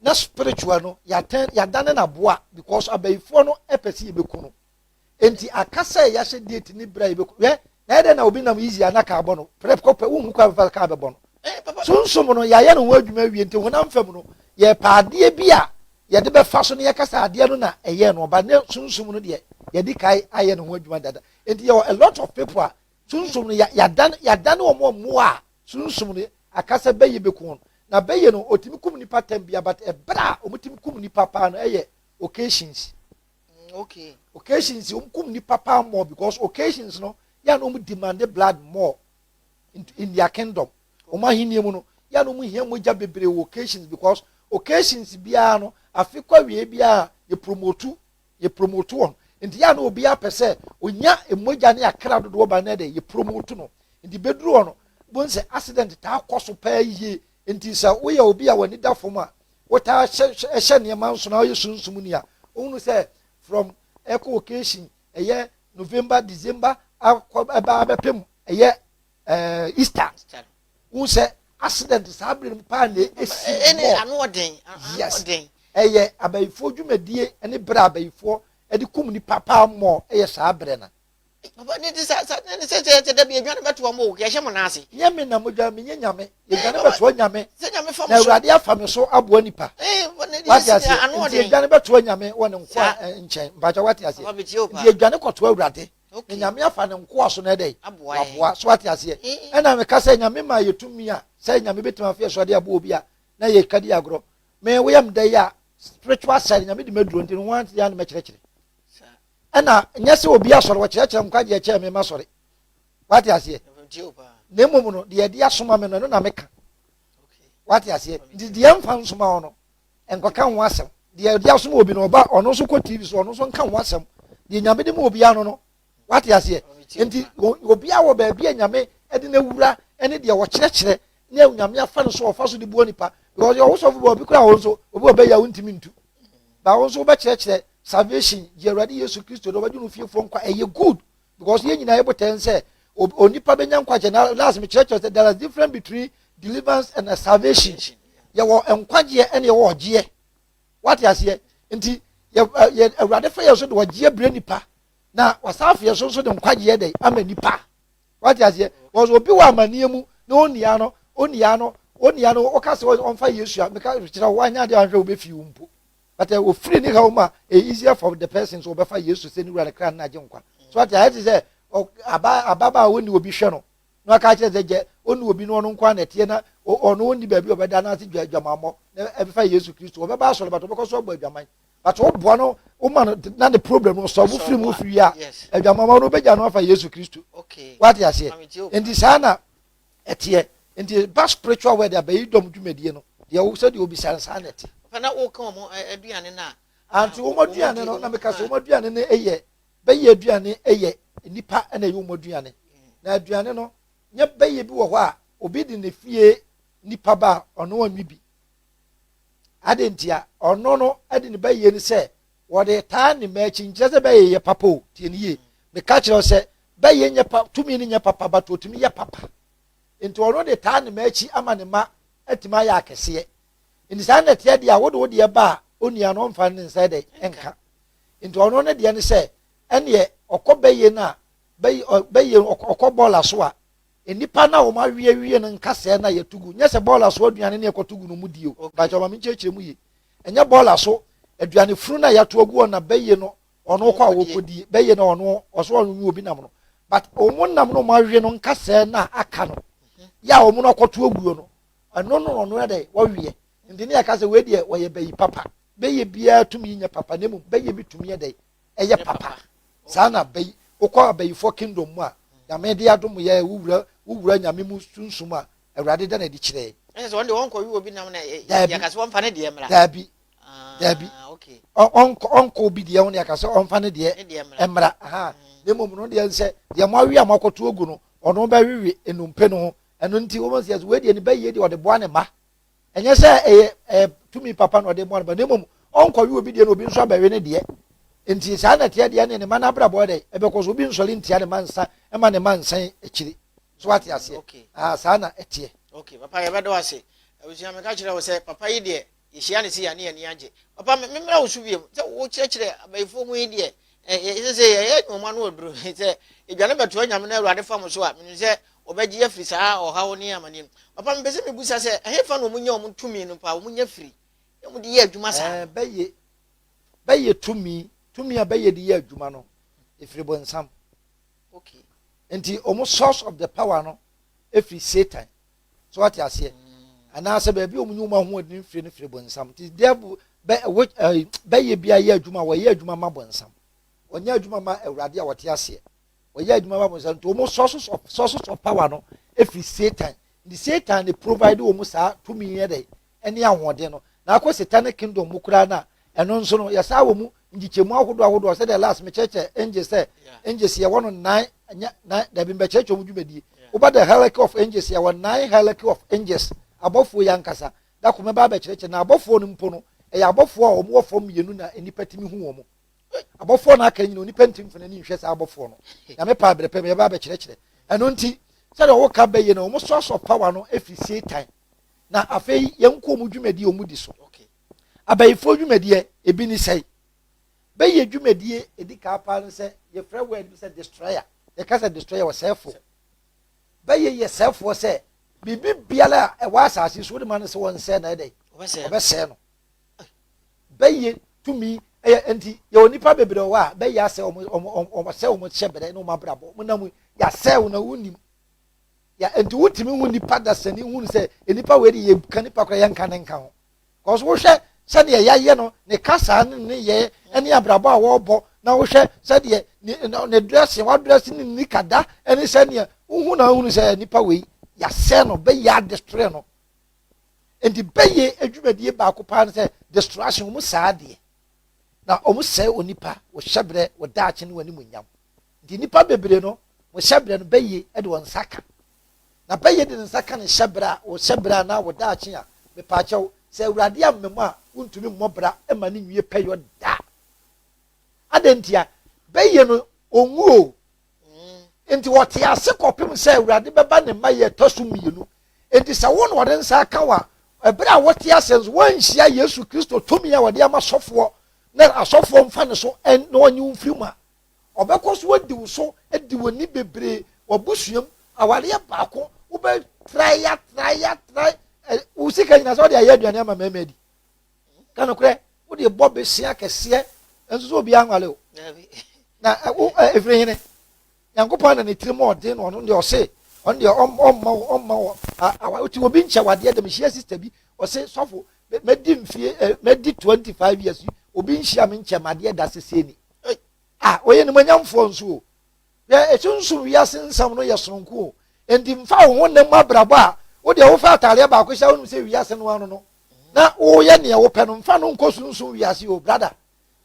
na spiritual no yɛatɛn yɛadane no aboa because abayifoɔ no pɛ sɛ yɛbɛku no enti aka sɛ yɛahyɛ date ne berɛ a yɛbɛku hwɛ na ɛdɛ na obi nam easy a na kaa bɔ no prɛp kɔpɛ wonhu kwan fa kaa bɛbɔ no Sunsum no yɛayɛ no ho adwuma awie nti honam fam no yɛpɛ adeɛ bi a yɛde bɛfa so no yɛka sɛ adeɛ no na ɛyɛɛ no ɔba ne sunsum no deɛ yɛde kae ayɛ no ho adwuma dada enti yɛwɔ a lot of people a Sunsum no, yɛ, yɛadan, yɛadan wɔn wɔ mmoa a Sunsum no aka sɛ bɛyɛ bɛku wɔn. Na bɛyɛ no, wɔtumi kum nnipa tɛm bia, but ɛberɛ a wɔtumi kum nnipa paa no, ɛyɛ occasions. Mm, okay. Occasions, wɔn kum nnipa paa more because occasions no, yɛ a na wɔn demande blood more in, in their kingdom. Wɔn ahenni mu no, yɛ a na wɔn hia mogya bebree wɔ occasions because occasions biara no, afe kɔ awie biara, yɛ promote yɛ promote wɔn nti yɛ a na obiara pɛ sɛ onya mmogya ne akra dodoɔ ban na de yɛ promote no nti bɛduru hɔ no bohu sɛ accident taa kɔ so paa yie nti sɛ woyɛ obi a w'ani da fam a wotaa hyɛ nneɛma nso na woyɛ sunsum ni a wohunu sɛ from ɛkɔ occasion ɛyɛ november december akɔ ɛbaa bɛpem ɛyɛ ɛɛ easter wọn sɛ accident saa bere no paa na esi wɔ ɛne ano ɔden yes ɛyɛ abayifoɔ dwumadie ɛne bere abayifoɔ ɛde kum nipa paa mɔ ɛyɛ saa bere na. papa ne ti sa sa ne sɛ sɛ sɛ dabi edwa ne bɛ to wɔn o yɛhyɛ mo n'ase. nyɛ mi na mo dwa mi nye nyame edwa ne bɛ to nyame na awurade afa mi so aboa nipa wate ase nti edwa ne bɛ to nyame wɔ ne nko a nkyɛn mpatsɛ wate ase nti edwa ne kɔto awurade. na nyame afa ne nkoa so na ɛdɛ waboa so ate aseɛ ɛna meka sɛ nyame ma yɛ tumi a sɛ nyame bɛtumi afeɛ so ade aboɔ bi a na yɛ kadi agorɔ me woyɛ mdɛ yi a spiritual side nyame de maduro nti no ho ante yɛ ne mɛkyerɛkyerɛ ɛna nyɛ sɛ obi asɔre wɔkyerɛkyerɛ nkwagyeɛ kyɛɛ me ma sɔre wate aseɛ na mmom no deɛ ɛde asoma me no ɛno na meka wate aseɛ nti deɛ mfa nsoma hɔ no nkɔka ho asɛm. Deɛ ɔde asom obi no ɔba ɔno nso kɔ TV so ɔno nso nka ho asɛm. Deɛ nyame de ma obiara no no wate aseɛ. Nti obiara wɔ baabi a nyame de no awura ne deɛ ɔkyerɛkyerɛ ne nyame afa no so ɔfa so de boa nipa. Because ɔwo sɔfo bi obi kora hɔ nso obi ɔbɛyɛ a wontumi ntu. Ba wo nso wobɛkyerɛkyerɛ salvation gye Awurade Yesu Kristo de ɔbɛgye no fiefoɔ nkwa ɛyɛ good. because yɛn nyinaa yɛbɔ tɛn sɛ onipa bɛnya nkwagye na last mekyerɛkyerɛ sɛ there is difference between deliverance and salvation yɛwɔ nkwagyeɛ ɛne yɛwɔ ɔgyeɛ wate aseɛ nti yɛ awurade fa yɛ so de ɔgyeɛ brɛ nipa na wasan afeɛ so nso de nkwagyeɛ dɛ ama nipa wate aseɛ because obi wɔ amanneɛ mu na onua no onua no onua no ɔka sɛ ɔmfa yesu a meka kyerɛ wo anyɛ adeɛ ahwɛ wobɛfi wo mpo but eh, ofiri ne haw mu a e easier for the person so ɔbɛfa yesu sɛ ne wura ne kra na agye nkwa so ate ayɛ te sɛ aba ababa a ɔni obi hwɛ no na ɔka kyerɛ sɛ gyɛ ɔni obi no ɔno nkwa na ɛteɛ na ɔno ɔni baabi ɔbɛda no ase dwa adwamammɔ na ɛbɛfa yesu kristo ɔbɛba asɔre but ɔbɛkɔ so abɔ adwaman but ɔboa no woma no na ne problem no sɔ mo firi mu firi a adwamammɔ no wobɛgya no afa yesu kristo wate aseɛ nti saa na ɛteɛ nti ba spiritual word abɛyi dɔm dwumadie no deɛ wo sɛdeɛ obisa no saa na ɛte fana woka wɔn aduane no a anti wɔn aduane no na meka sɛ wɔn aduane no yɛ bɛyɛ aduane yɛ nnipa na ɛyɛ wɔn aduane na aduane no nyɛ bɛyɛ bi wɔ hɔ a obi de ne fie nipa ba a ɔno ɔnwe bi ade ntia ɔno no de ne bɛyɛ ni sɛ Wɔde taa ne mma akyi nkyerɛ sɛ bɛyɛ yɛ papa o. Tie no yie. Meka kyerɛ wo sɛ, bɛyɛ nyɛ pa, tumi no nyɛ papa but wɔtumi yɛ papa. Nti ɔno de taa ne mma akyi ama ne mma atumi ayɛ akɛseɛ. Nti saa na ɛteɛ deɛ a wode wo deɛ ba a onua no ɔmfa ne nsa dɛ nka. Nti ɔno ne deɛ ne sɛ ɛneɛ ɔkɔ bɛyɛ no a bɛyɛ ɔkɔ bɔɔla so a Nnipa no a wɔawe awie no nka sɛɛ no a yɛto gu, nyɛ sɛ bɔɔla so aduane na yɛkɔto gu no mu die o. Mpakyɛw, ma menkyerɛkyerɛ mu yie. Ɛnyɛ bɔɔla so aduane funu no a yɛato agu hɔ no na bɛye no ɔno kɔ a wɔkɔdie, bɛye no ɔno ɔsɛ ɔnwe obi nam no. But wɔn nam no a wɔawe no nka sɛɛ no a aka no, yɛ a wɔn no akɔto aguo no, ɛno no na ɔno yɛ dɛn? Wɔweɛ. Nti ne yɛka sɛ wei deɛ wɔyɛ bayi papa. Bɛye biara tumi nyɛ papa na mmom bɛye bi tumi yɛ dɛn? ɛyɛ papa saa na bɛyi wokɔ abayifoɔ kingdom mu a nyame de adom yɛ wo wura wo wura nyame mu sunsum a awurade da na adi kyerɛ yɛ. ɛnyɛ sɛ wɔn deɛ wɔnkɔ wi obi nam na yɛka sɛ wɔmfa ne deɛ mmra daabi ah, daabi ɔnkɔ obi deɛ ho na yɛka sɛ ɔmfa ne deɛ mmra aha na mmom no deɛ sɛ deɛ moawe a moakɔto agu no ɔno bɛwewe nnompe no ho ɛno nti wɔn sɛ yɛsɛ wɔadi ani bɛyie deɛ ɔde boa ne ma ɛnyɛ sɛ ɛyɛ ɛyɛ tumi papa na ɔde mmoa no ba na mmom ɔnkɔwe obi deɛ na obi nso abɛwe ne deɛ nti saa na ɛteɛ deɛ ne ne ma no abrabɔ dɛ ɛbɛkɔ so obi nsɔre ntia ne ma nsa ɛma ne ma nsan akyiri so ate aseɛ aa saa na ɛteɛ. ok papa yɛbɛdɔ ase abusua meka kyerɛ wo sɛ papa yi deɛ yɛhyia ne se yɛne yɛne agye papa memmra wo so wiem sɛ wokyerɛkyerɛ abayifoɔ ho yi deɛ Ɛsɛ sɛ yɛyɛ adwuma mu ano aduru sɛ yɛdwane bɛtoa Nyame na Awurade fa mo so a, menim sɛ wɔbɛgye yɛ afiri saa ɔhaw ne amaneɛ mu. Papa, mepɛ sɛ mebusa sɛ, ɛhefa na wɔnya wɔn tumi no paa, wɔnya firi na wɔde yɛ adwuma saa no? Bɛyɛ, bɛyɛ tumi, tumi a bɛyɛ de yɛ adwuma no, ɛfiri bonsam. Okay. Nti wɔn source of the power no ɛfiri Satan. So wate aseɛ? Anaasɛ baabi a wɔnyi wɔn ahoɔden mfiri no firi bonsam. Nti devil bɛ ɛwɔ ɛɛ bɛyɛ bi ayɛ adwuma wɔyɛ adwuma ma bonsam. Wɔnyɛ adwuma ma awurade a wɔte aseɛ. Wɔyɛ adwuma ma bonsam nti wɔn sources of sources of power no efiri satan. Nti satan ne provide wɔn saa tumi yɛ dɛ ne ahoɔden no na akɔ satanic kingdom mu koraa no a ɛno nso no yɛsaa wɔ mu nkyekyɛmu ahodoɔ ahodoɔ sɛdeɛ last mekyerɛkyerɛ angels sɛ angels yɛwɔ no nnan nyɛ nnan dabi mbɛkyerɛkyerɛ wɔn dwumadie woba the hierarchy of angels yɛwɔ nnan hierarchy of angels abɔfoɔ yi ankasa da kɔmɛ ba abɛkyerɛkyerɛ na abɔfoɔ no mpo no ɛyɛ abɔfoɔ a wɔn wɔ fam mmienu na nnipa tumi hu wɔn abɔfoɔ no aka nyina onipa nti mfana ni nhwɛ saa abɔfoɔ no nyame paa berɛ pɛ meyɛba abɛkyerɛkyerɛ ɛno nti sɛdeɛ wɔka bɛyɛ no wɔn soasoa power no ɛfiri satan na afei yɛnkɔ wɔn dwumadie a wɔdi so. Abayifoɔ dwumadie ebi ne sɛe. Bɛyɛ dwumadie edi kaa paa no sɛ yɛfrɛ word bi sɛ destroyer. Yɛka sɛ destroyer wɔ sɛɛfoɔ. Bɛyɛ yɛ sɛɛfoɔ sɛ biribi biara a ɛwɔ asase so wode ma no sɛ wɔnsɛe na ɛdɛ wɔbɛsɛe no. Bɛyɛ tumi ɛyɛ nti yɛwɔ nipa bebree wɔ a bɛyɛ asɛ wɔn wɔn wɔn wɔn sɛ wɔn hyɛ brɛ ne wɔn abrabɔ wɔn nam yɛasɛe wɔn na wɔn nim Yeah, nti wotumi hu nipa dasani hu no sɛ nipa wei de yɛka nipa koraa yɛnka ne nka ho. Kɔso wohwɛ sɛdeɛ yɛayɛ no, ne kasaa ne ne yɛ ne abrabɔ a wɔrebɔ na wohwɛ sɛdeɛ ne, ne dressing, wadrɛse ne ni kada ne sɛdeɛ wohu na wohunu sɛ nipa wei yɛasɛ no, bɛyɛ adestroy no. Nti bɛyɛ adwumadie baako paa no sɛ distraction, wɔn saa adeɛ. Na wɔn sɛe onipa, wɔhyɛ berɛ, wɔdaakye ne wɔn animuonyam. Nti nnipa bebree no, wɔn hyɛbrɛ no, bɛyɛ de wɔn nsa ka. Na bɛyɛ de ne nsa ka ne hyɛbrɛ a, wo hyɛbrɛ anaa wo daakye a, mepaakyɛw, sɛ Awurade ammam a, wontumi mmɔ bra mma no nwie pɛyɔ da. Adɛn ntia? Bɛyɛ no, onwu o. Nti wɔte ase kɔpem sɛ Awurade bɛba ne mma yɛ ɛtɔ so mmienu. Nti sɛ wo na wɔde nsa aka wo a, ɛberɛ a wɔte ase nso, wɔanhyia Yesu Kristo tumi a wɔde ama sɔfoɔ na asɔfoɔ mfa ne so na wɔnye wo mfiri mu a, Ɔbɛkɔ so adi wo so, adi w'ani bebree, w'abusua mu, awareɛ baako, wobɛ trae ya trae ya trae, wo sika nyina sɛ wode ayɛ aduane ama mmarima adi. Ka nokorɛ, wode bɔ besea kɛseɛ, nso so obiara nwale o. Na wo ɛfiri hene? Nyankopɔn na ne tirim ɔden no ɔno deɛ ɔse, ɔno deɛ ɔmma wo, ɔmma wo, awa, ɔte obi nkyɛ wadeɛ dɛm, hyia sista bi, ɔse, sɔfo, mɛdi mfie, mɛdi 25 years, obi nhyia me nkyɛ madeɛ da sesei ni. Hey, ah, ɔyɛ nimonyamfoɔ nso o. Yɛ esunsun wiase nsɛm no yɛ sononko o. Enti nfa wo ho nna mu abrabɔ a wo deɛ wofa ataadeɛ baako hyɛ a wonim sɛ wiase no ano no na woyɛ neɛ wopɛ no nfa no nkɔ sunsun wiase o brada.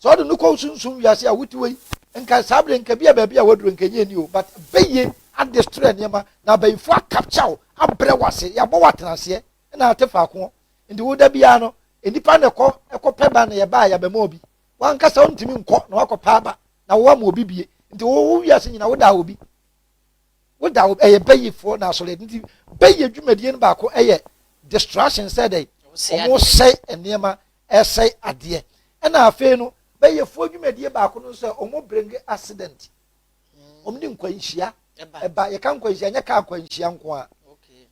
Sɛ ɔde no kɔ sunsun wiase a wote wei nka saa bere nka bia baabi a waduro nka nyɛ ni o but bɛyie adestroy nneɛma na abayifoɔ akapkya wo abrɛ wase yɛabɔ watena aseɛ na ate faako nti woda biara no nnipa na ɛkɔ ɛkɔ pɛ ba na yɛba a yɛabɛma obi wankasa wontumi nkɔ na wakɔ paa ba na wo ama obi bie nti wo wo wiase nyina woda obi woda obi ɛyɛ bɛyifoɔ na asɔre nti bɛyi adwumadie no baako ɛyɛ distraction sɛ dɛ wɔn sɛe nneɛma ɛsɛe adeɛ ɛna afei no bɛyifoɔ adwumadie baako no sɛ wɔn bring accident wɔn de nkwanhyia ɛba yɛka nkwanhyia nyɛ kaa nkwanhyia nko a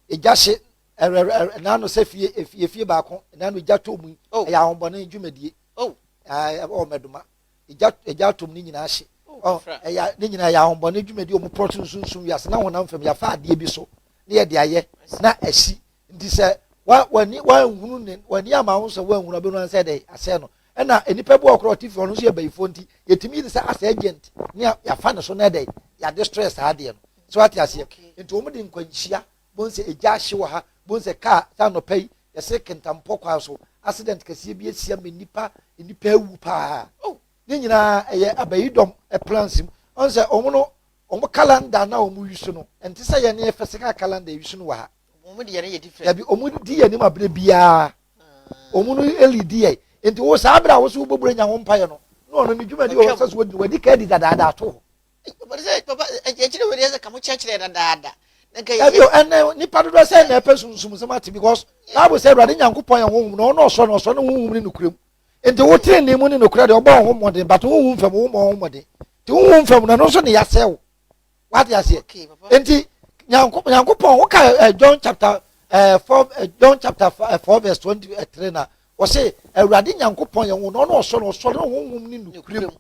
egya hye Ɛrɛrɛrɛ na ano sɛ fie efie efie baako na ano egya tɔ mu yi oh. ɛyɛ ahombɔne dwumadie oh. ɛwɔ mɛdoma egya egya tɔ mu ne nyinaa hye oh, ɛyɛ ne nyinaa ɛyɛ ahombɔne dwumadie wɔn pɔrɔ sunsunsun wiase na honam fam yafa adeɛ bi so ne yɛ de ayɛ na ɛsi nti sɛ wa wani wanhunu ne wani ama ho sɛ wanhunu ɔbɛnu ansɛ dɛ asɛ no ɛna nipa bi wɔ korɔ ɔte fi ɔno nso yɛ bɛyifo nti yɛtumi yi sɛ asɛ agent ne yafa ne so na ɛdɛ yɛade stress saa adeɛ no so ate aseɛ nti wɔn de nkwanhyia Bohu sɛ egya ahye wɔ ha. Bohu sɛ kaa sɛ anɔpa yi yɛsere Kentampɔ kwan so accident kɛseɛ bi asia ma nnipa nnipa awu paa. Oh ne nyinaa ɛyɛ abayidɔm plans mu. Ɔn sɛ ɔmo no ɔmo calendar a na ɔmo use no ɛnte sɛ yɛn yɛ physical calendar use no wɔ ha. Ɔmo de yɛn yɛ different. Dabi ɔmo di yɛn anim abere biaa ɔmo no leadi yɛn. Nti wo saa abere a wo se wo bɔ bura nya ho mpaeɛ no na ɔno ne dwumadi wɔ hɔ sɛ so wadi no wadi ka adi dadaada ato hɔ. ɛbio ɛnɛ nipa dodoɔ sɛ na ɛpɛ sunsumsɛm ate because bible sɛ awurade nyankopɔn yɛ honhom na ɔno ɔsɔ no ɔsɔ no honhom ne nokorɛ mu nti wo tere ne mu ne nokorɛ deɛ ɔbɔ wo ho mmɔden but honhom fam wo mmɔ wo ho mmɔden nti honhom fam no ɛno nso ne yɛasɛ wo wate aseɛ nti nyankopɔn woka eh, john chapter eh, four eh, john chapter four verse twenty three na ɔse awurade nyankopɔn yɛ honhom na ɔno ɔsɔ no ɔsɔ no honhom ne nokorɛ mu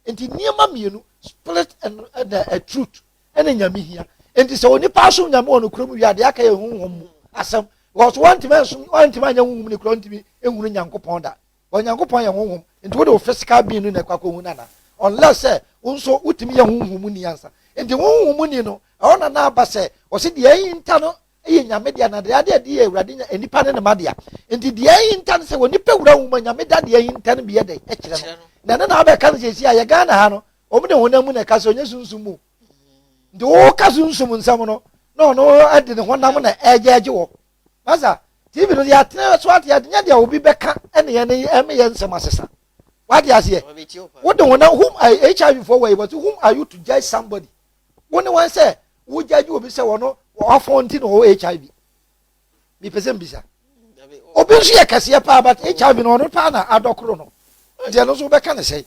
Nti nneɛma mmienu, spirit and ɛna eh, truth ɛna nyame hia. Nti sɛ onipa asom nyame wɔ nokorɛ mu wie a deɛ aka yɛ honhom mu asɛm because wantumi ansom wantumi anyɛ honhom ne korɛ ntumi nhunu nyankopɔn da wɔn nyankopɔn yɛ honhom nti wode wo physical being no na ɛkɔ akɔhu no ana unless sɛ wo nso wotumi yɛ honhom ni ansa nti honhom ni no ɛhɔ na na aba sɛ ɔse deɛ ɛyi nta no yɛ Nyame dea, na deɛ ade adi yɛ Awurade Nya, nnipa ne ne ma dea. Nti deɛ ahinta ne sɛ onipa wura nwoma Nyame da deɛ ahinta no bi yɛ dɛn? Kyerɛ no. Na ɛno na wabɛka no seesei a yɛ Ghana ha no, wɔn de honam mu na ɛka sɛ ɔnyɛ sunsum mu. Nti woka sunsum nsɛm no, na ɔno de ne honam na ɛgyɛgye wɔ. Masa, TV no deɛ atena so ate ade, nyɛ deɛ obi bɛka ɛne yɛn ne ɛme yɛn nsɛm asesa. Wate aseɛ? Wode honam, whom are HIV for wɔ yi, but whom are you to judge somebody? Wo ne wɔn sɛ wogyagye obi sɛ wɔno wɔafɔn nti na ɔwɔ HIV. Mepɛ sɛ mbisa. Obi nso yɛ kɛseɛ paa but HIV no ɔno paa na adɔkoro no. Nti ɛno nso wobɛka ne sɛe.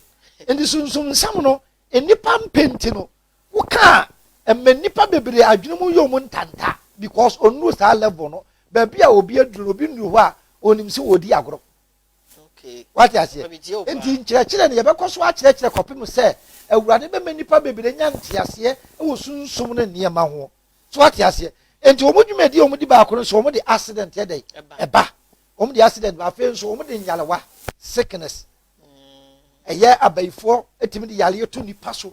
Nti sunsum nsɛm no nnipa mpɛ nti no woka a ɛma nnipa bebree adwene mu yɛ ɔmo ntanta because ɔnnuru saa level no. Baabi a obi aduru no obi nnuru hɔ a ɔnim sɛ ɔredi agorɔ. wate aseɛ nti nkyerɛkyerɛ no yɛbɛkɔ so akyerɛkyerɛ kɔpem sɛ awurade bɛma nnipa bebree nya nteaseɛ wɔ sunsum no nneɛma ho so wate aseɛ nti wɔn dwumadi wɔn di baako no so wɔn de accident yɛ dɛ ɛba wɔn de accident ba afei nso wɔn de nyarewa sickness ɛyɛ abayifoɔ etimi de yareɛ to nipa so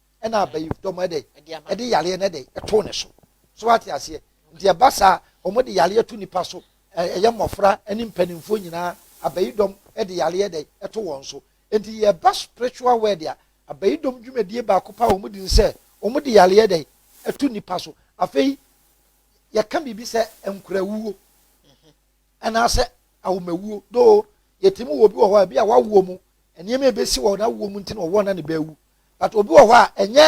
ɛna abayifdɔm ɛdɛ ɛde yareɛ no ɛdɛ ɛtoo ne so so wate aseɛ nti ɛba saa wɔn de yareɛ to nipa so ɛyɛ mmɔfra ɛne mpanimfoɔ nyinaa abayidɔm ɛde yareɛ ɛdɛ ɛto wɔn so nti yɛba spiritual word a abayidɔm dwumadie baako pa wɔn di nsɛ wɔn de yareɛ ɛdɛ ɛto nipa so afei yɛka biribi sɛ nkurawuo anaasɛ ahomawuo doo yɛtumi wɔ obi wɔ hɔ a ebi a wawoɔ mu nneɛma ebesi wɔ n'awoɔ mu nti na ɔwoɔ na ne bɛawu but obi wɔ hɔ a ɛnyɛ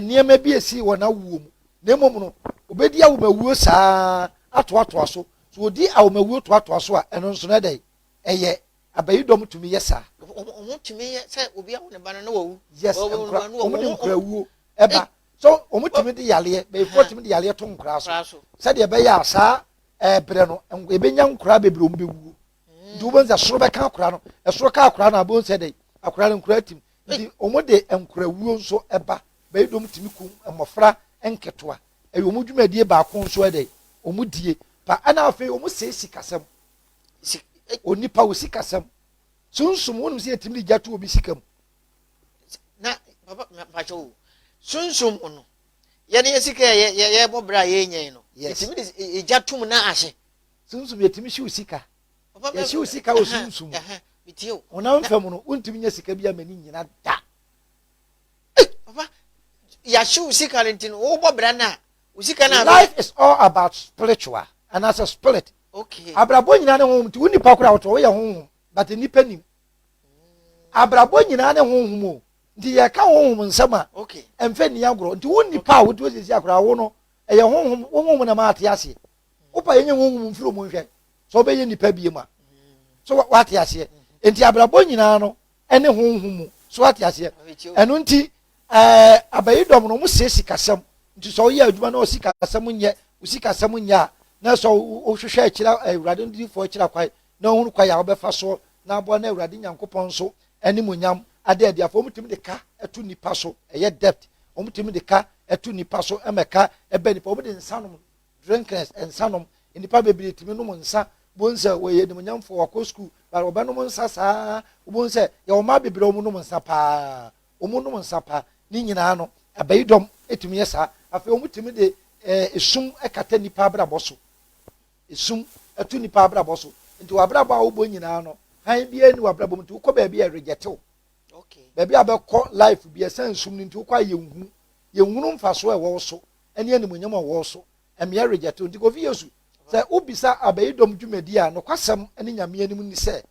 nneɛma bi esi wɔ n'awoɔ mu na mmom no obedi ahomawuo saa atoatoa so so odi ahomawuo toatoa so a ɛno nso no ɛdɛ ɛyɛ abayidɔm tumi yɛ saa. wɔn tumi yɛ sɛ obi awo ne ba no na wawu. yes nkura wɔn de nkura wuo ɛba So wɔtumi de yareɛ, bɛyifoɔ tumi de yareɛ to nkoraa so sɛdeɛ ɛbɛyɛ a saa ɛberɛ no ɛbɛnya nkoraa bebree wɔn bɛwuo. Nti wobɛhu sɛ soro bɛka akoraa no, ɛsoro ka akoraa no abɛhu sɛ dɛ akoraa no nkoraa tim. Nti wɔn de nkorawuo nso ɛba, bɛyidom tumi kum mmɔfra nketewa. Ɛyɛ wɔn dwumadie baako nso ɛdɛ wɔn die pa. Ɛna afei wɔn sɛ sikasɛm, onipa wɔ sikasɛm, sunsum, wɔn sɛ yɛtumi de gya to obi sika mu. na papa mpakyɛ o sunsun mu no yɛn yɛ sika yɛ yɛ yɛ bɔ bere a yɛ nyɛn no yɛtumi de egya tum na ahye sunsun yɛtumi hyew sika yɛhyew sika wɔ sunsun mu honam fam no wontumi nya sika bi a m'ani nyina da papa yɛahyew sika no nti no wobɔ bra no a wo sika no life is all about spiritual anaasɛ spirit abrabɔ nyina ne honhom nti wo nipa kora wotɔ woyɛ honhom but nipa nim abrabɔ nyinaa ne honhom o nti yɛka honhom nsɛm a ɛmfɛ nni agorɔ nti wo nipa a wote sisi akora wo no ɛyɛ honhom wo honhom na maa te aseɛ wopa yɛnyɛ honhom mfiri mu nhwɛ sɛ wobɛyɛ nipa bie mu a so wate aseɛ nti abrabɔ nyinaa no ɛne honhom mu so wate aseɛ ɛno nti ɛɛ abayi dɔm no wɔn sɛ sikasɛm nti sɛ ɔyɛ adwuma na ɔsikasɛm nyɛ osikasɛm nyɛ a na sɛ ɔhwehwɛ akyira awurade no difoɔ akyira kwae na ɔhunu kwae a ɔbɛfa so na aboa no Awurade Nyankopɔn so animuonyam ada adi. Afei wɔtumi de ka to nnipa so, ɛyɛ debt, wɔtumi de ka to nnipa so ma ɛka ɛbɛ nnipa, wɔde nsa nom, drinkers, nsa nom, nnipa bebree tumi nom nsa, wɔn sɛ wɔyɛ animuonyamfoɔ, wɔakɔ sukuu, but wɔbɛnom nsa saa, wɔn sɛ yɛ wɔn mmaa bebree wɔn nom nsa paa, wɔn nom nsa paa, ne nyinaa no, ɛbɛyi dɔm tumi yɛ saa, afei wɔtumi de ɛɛ esum kata nnipa abrabɔ so. esum to nnipa abrabɔ so. Nti w'abrabɔ a wobɔ nyinaa no, hann biara nni w'abrabɔ mu nti wokɔ baabi a ɛregyɛte wo. Baabi a bɛkɔ life bi ɛsan nsum no nti wokɔ a yɛnhu, yɛnhunu mfasoɔ a ɛwɔ wo so ne animuonyam a ɛwɔ wo so. Ɛmea ɛregyɛte wo. Nti Kofi Yesu, sɛ wobisa abayidɔm dwumadie a, nokwasɛm ne Nyame anim ne sɛ,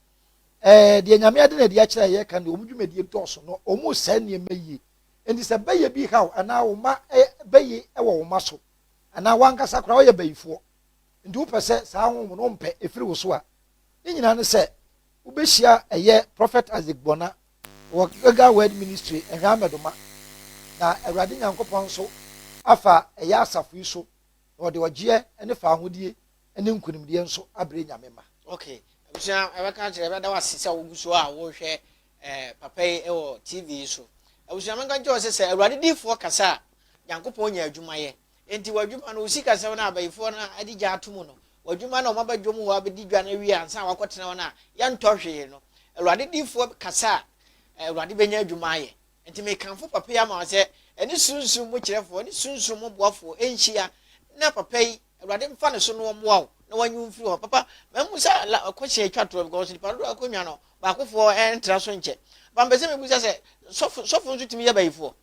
eh, deɛ Nyame ade na adi akyerɛ a yɛreka no deɛ, wɔn dwumadie dɔɔso na wɔresɛe nneɛma yie. Nti sɛ bɛyɛ bi haw anaa wo mma eh, bɛye wɔ wo mma so anaa w'ankasa koraa woyɛ bayifoɔ, Nti wopɛ sɛ saa honhom no wompɛ ɛfiri wo so a, ne nyinaa ne sɛ wobɛhyia ɛyɛ Prophet Isaac Gbona wɔ Gilgal Word Ministry Nhwamedoma na Awurade Nyankopɔn nso afa ɛyɛ asafo yi so na wɔde ɔgyeɛ ne faahodie ne nkunimdie nso abrɛ Nyame mma. Ok abusua yɛbɛka akyerɛ yɛbɛda wo ase sɛ wogu so a wohwɛ eh, papa yi wɔ TV yi so abusua menka nkyerɛ sɛ sɛ Awurade diifoɔ kasa a Nyankopɔn nya adwuma yɛ Enti w'adwuma no, wo sikasɛm no a abayifoɔ no adi gya ato mu no, w'adwuma no a wɔaba dwom hɔ abɛdi dwa no awie ansa na wɔakɔtena hɔ no a yɛntɔ hwee no, Awurade diyifoɔ kasa a, Awurade bɛnya adwuma ayɛ. Enti mekamfo papa yi ama wo sɛ, ɛne Sunsum mu kyerɛfoɔ, ɛne Sunsum mu boafoɔ nhyia, na papa yi, Awurade mfa ne so na ɔmmoa wo, na wɔnyi wo mfiri hɔ. Papa, mammisa la, kɔhyia atwa toɔ, because nnipa dodoɔ a wɔkɔnwa no, baakofoɔ ntra so nkyɛ. Papa, mepɛ sɛ mebisa sɛ, sɔfo, sɔfo nso tumi yɛ bayifoɔ?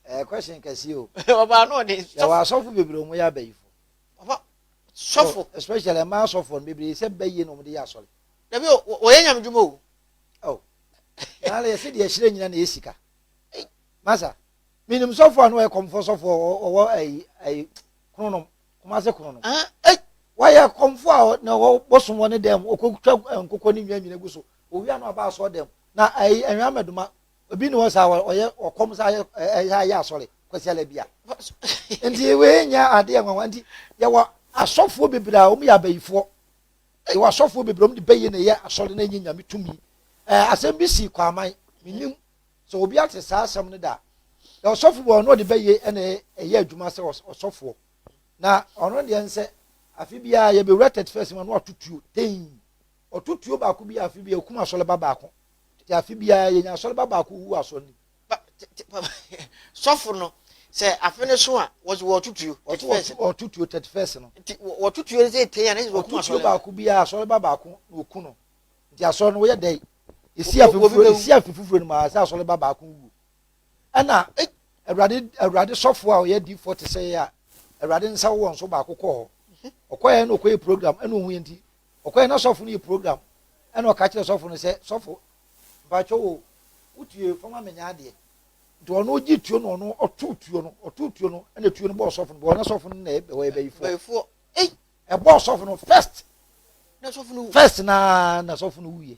ɛyɛ question kɛseɛ o ɔbaa no ɔde yɛwɔ asɔfo bebree ɔmo yɛ abayifo ɔba sɔfo especially ɛmaa asɔfo no bebree sɛ bɛyie na ɔmo de yɛ asɔre dabi ɔyɛ nyame dwuma o oh naala yɛsɛ deɛ ɛhyerɛ nyina na ɛsika masa menim sɔfo a na ɔyɛ kɔmfoɔ sɔfo ɔwɔ ayi ayi kronom kɔmase kronom wayɛ kɔmfoɔ a na ɔwɔ bosom wɔ ne dɛm ɔkɔtwa nkokɔ ne nnwa nyina gu so owia na ɔba asɔ dɛm na ayi ɛnwa mɛdoma Obi ni hɔ saa wɔ ɔyɛ ɔkɔm saa yɛ ɛyɛ yɛ asɔre kwasi ala bi a. Nti wei nyɛ ade yɛ nwanwa nti yɛ wɔ asɔfoɔ bebree a wɔn yɛ abayifoɔ. Yɛ wɔ asɔfoɔ bebree wɔn de bɛyɛ na ɛyɛ asɔre na ɛnyɛ nyame tumi. Ɛɛ asɛm bi si kwaman menim sɛ obi ate saa asɛm no da. Yɛ ɔsɔfo bi ɔno ɔde bɛyɛ ɛna ɛyɛ adwuma sɛ ɔsɔfoɔ na ɔno deɛ nsɛ afe biara yɛ bɛ wura thirty first ma no atutuo ten Wɔto tuo baako biara afe biara, wɔkum asɔreba baako. Te afe biara, yɛnya asɔreba baako ɔwu wɔ asɔre no mu. Pa, te, te, pa, sɔfo no, sɛ afe no so a, wɔsi wɔto tuo. Wɔto, wɔto, wɔto tuo thirty first no. Nti wɔto tuo no sɛ tei a, na ɛsɛ sɛ wɔkum asɔreba. Wɔto tuo baako biara, asɔreba baako na wɔku no. Nti asɔre no, wɔyɛ dɛn? Esi afe foforo, esi afe foforo no mu a, ɛsɛ asɔreba baako wuo. Ɛna, Awurade, Awurade sɔfo a ɔyɛ adiifoɔ te sɛ yɛ a, Awurade nsa wɔ nso baako kɔɔ hɔ. Ɔkɔɛ na ɔkɔyɛ program, ɛna ɔhu yɛ nti, Ɔkɔɛ na sɔfo no yɛ program ɛna ɔka kyerɛ sɔfo no sɛ sɔfo mpakyɛ o wo tue fa ma me nyɛ adeɛ nti ɔno ɔgye tuo no ɔno ɔto tuo no ɔto tuo no ɛna tuo no bɔɔ sɔfo no bɔɔ na sɔfo no na ɛyɛ bɛyifoɔ ɛbɔɔ sɔfo no first first na na sɔfo no wuye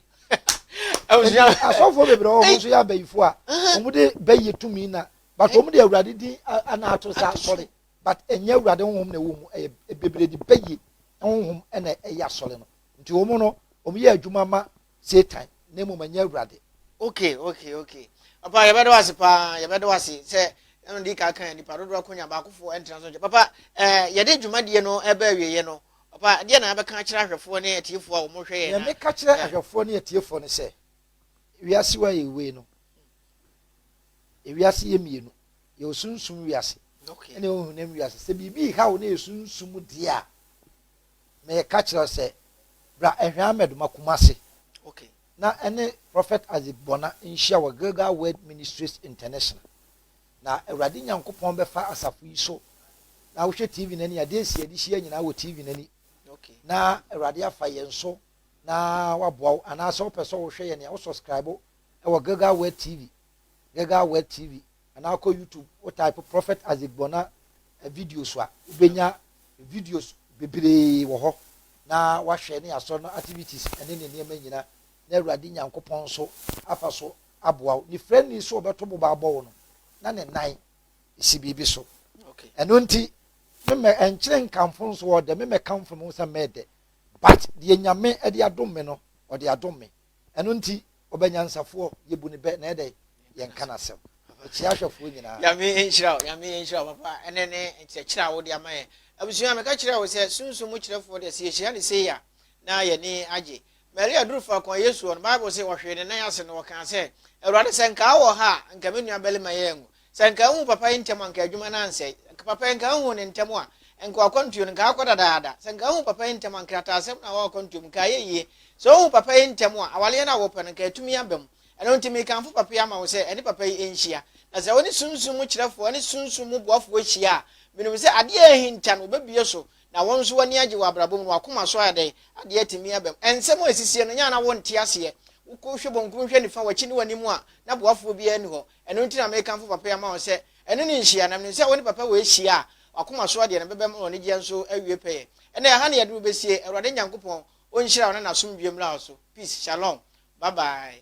asɔfoɔ bebree wɔn nso yɛ abayifoɔ a wɔn de bɛyɛ tumi na but wɔn de awurade din ana ato sa sɔre. but ɛnyɛ awurade honhom na ɛwɔ mu ɛyɛ ɛbebredi bɛyie honhom ɛna ɛyɛ asɔre no nti wɔn no wɔn yɛ adwuma ma satan na mmom ɛnyɛ awurade. okay okay okay papa yɛbɛda wo ase paa yɛbɛda wo ase sɛ ɛna ɔde ka kan nipa dodoɔ akonya baakofoɔ ɛntena so nkyɛ papa ɛɛ eh, yɛde dwumadie no ɛbɛ awieɛ no papa deɛ na abɛka akyerɛ ahwɛfoɔ ne atiefoɔ a wɔhwɛ yɛn na yɛmeka kyerɛ ahwɛfoɔ ne atiefoɔ no sɛ wiase wa yɛ wei no Ewiase yɛ mmienu, yɛwɔ sunsum wiase ne yɛwɔ honam wiase. Sɛ biribi reha wo na yɛ sunsum deɛ a, meka kyerɛ wo sɛ bra Ɛhwɛ Ahmed ma Kumasi okay. na ɛne Prophet Isaac Bona nhyia wɔ Gilgal Word Ministries International na Awurade Nyankopɔn bɛfa asafo yi so na wohwɛ TV no ani adeɛ si ade hyia nyinaa wɔ TV no ani okay. na Awurade afa yɛn so na waboa wo anaasɛ wopɛ sɛ wohwɛ yɛn a wo subscribe wɔ Gilgal Word TV, Gilgal Word TV, anaa kɔ YouTube, wo type Prophet Isaac Bona videos a, wobɛnya videos bebree wɔ hɔ na wahwɛ ne asɔre no activities ɛne ne nneɛma nyina na Awurade Nyankopɔn nso afa so aboa wo. Ne frɛni so ɔbɛto boba abɔ wo no, na ne nan si biribi so. Ɛno nti, memɛ ɛnkyerɛ nkamfo nso ɔdɛ, memɛ kamfo me ho sɛ mɛdɛ. But deɛ Nyame de adom me no, ɔde adom me. Ɛno nti, ɔbɛ nyansafoɔ, yɛbu no bɛ, na yɛdɛ yɛnka n'asɛm kyea ahwɛfoɔ nyinaa. Nyame nhyira wo, Nyame nhyira wo papa, ɛnɛ ne nkyerɛkyerɛ a wode ama yɛn. Abusua, meka kyerɛɛ wo sɛ Sunsum mu kyerɛfoɔ deɛ sɛ yɛhyira no sei a, na yɛani agye. Maria duru faako a Yesu wɔ no, Bible se ɔhwee ne nan ase na ɔkaa sɛ, Awurade, sɛ nka wowɔ ha a, nka me nuabarima yi anwu. Sɛ anka ahu papa yi ntɛm anka adwuma no ansɛe. Anka papa yi anka ahu no ntɛm a, anka wakwantuo no nka akɔ dadaada. Sɛ anka ahu papa yi ntɛm a, nkrataasɛm no a ɛwɔ akwantuo mu nka ayɛ yie. Sɛ ohu papa yi ntɛm a, awareɛ no a wɔpɛ no nka atumi aba mu. Ɛno nti mekamfo papa yi ama wo sɛ ɛne papa yi nhyia. Na sɛ wone sunsum mu kyerɛfoɔ ne sunsum mu boafoɔ hyia a, menim sɛ adeɛ a ahinta no wobɛbue so na wo nso w'ani agye wɔ abrabɔ mu na w'akoma so ayɛ dɛn? Adeɛ atumi aba mu. Nsɛm a ɛsisiiɛ no nyɛ a na wonte aseɛ. Wokɔ hwɛ bankum hwɛ nifa w'akyi ne w'anim a, na boafoɔ biara nni hɔ. Ɛno nti na mekamfo papa yi ama wɔn sɛ, Ɛno ne nhyia, na menim sɛ wo ne papa wei hyia a, w'akoma soɔ deɛ no bɛba mu na w'anigyeɛ nso awie pɛyɛ. Ɛnna ɛha na yɛduru bɛsie. Awurade Nyankopɔn ɔnhyira wo na n'asomdwoeɛ mmra wo so. Peace. Shalom. Bye bye.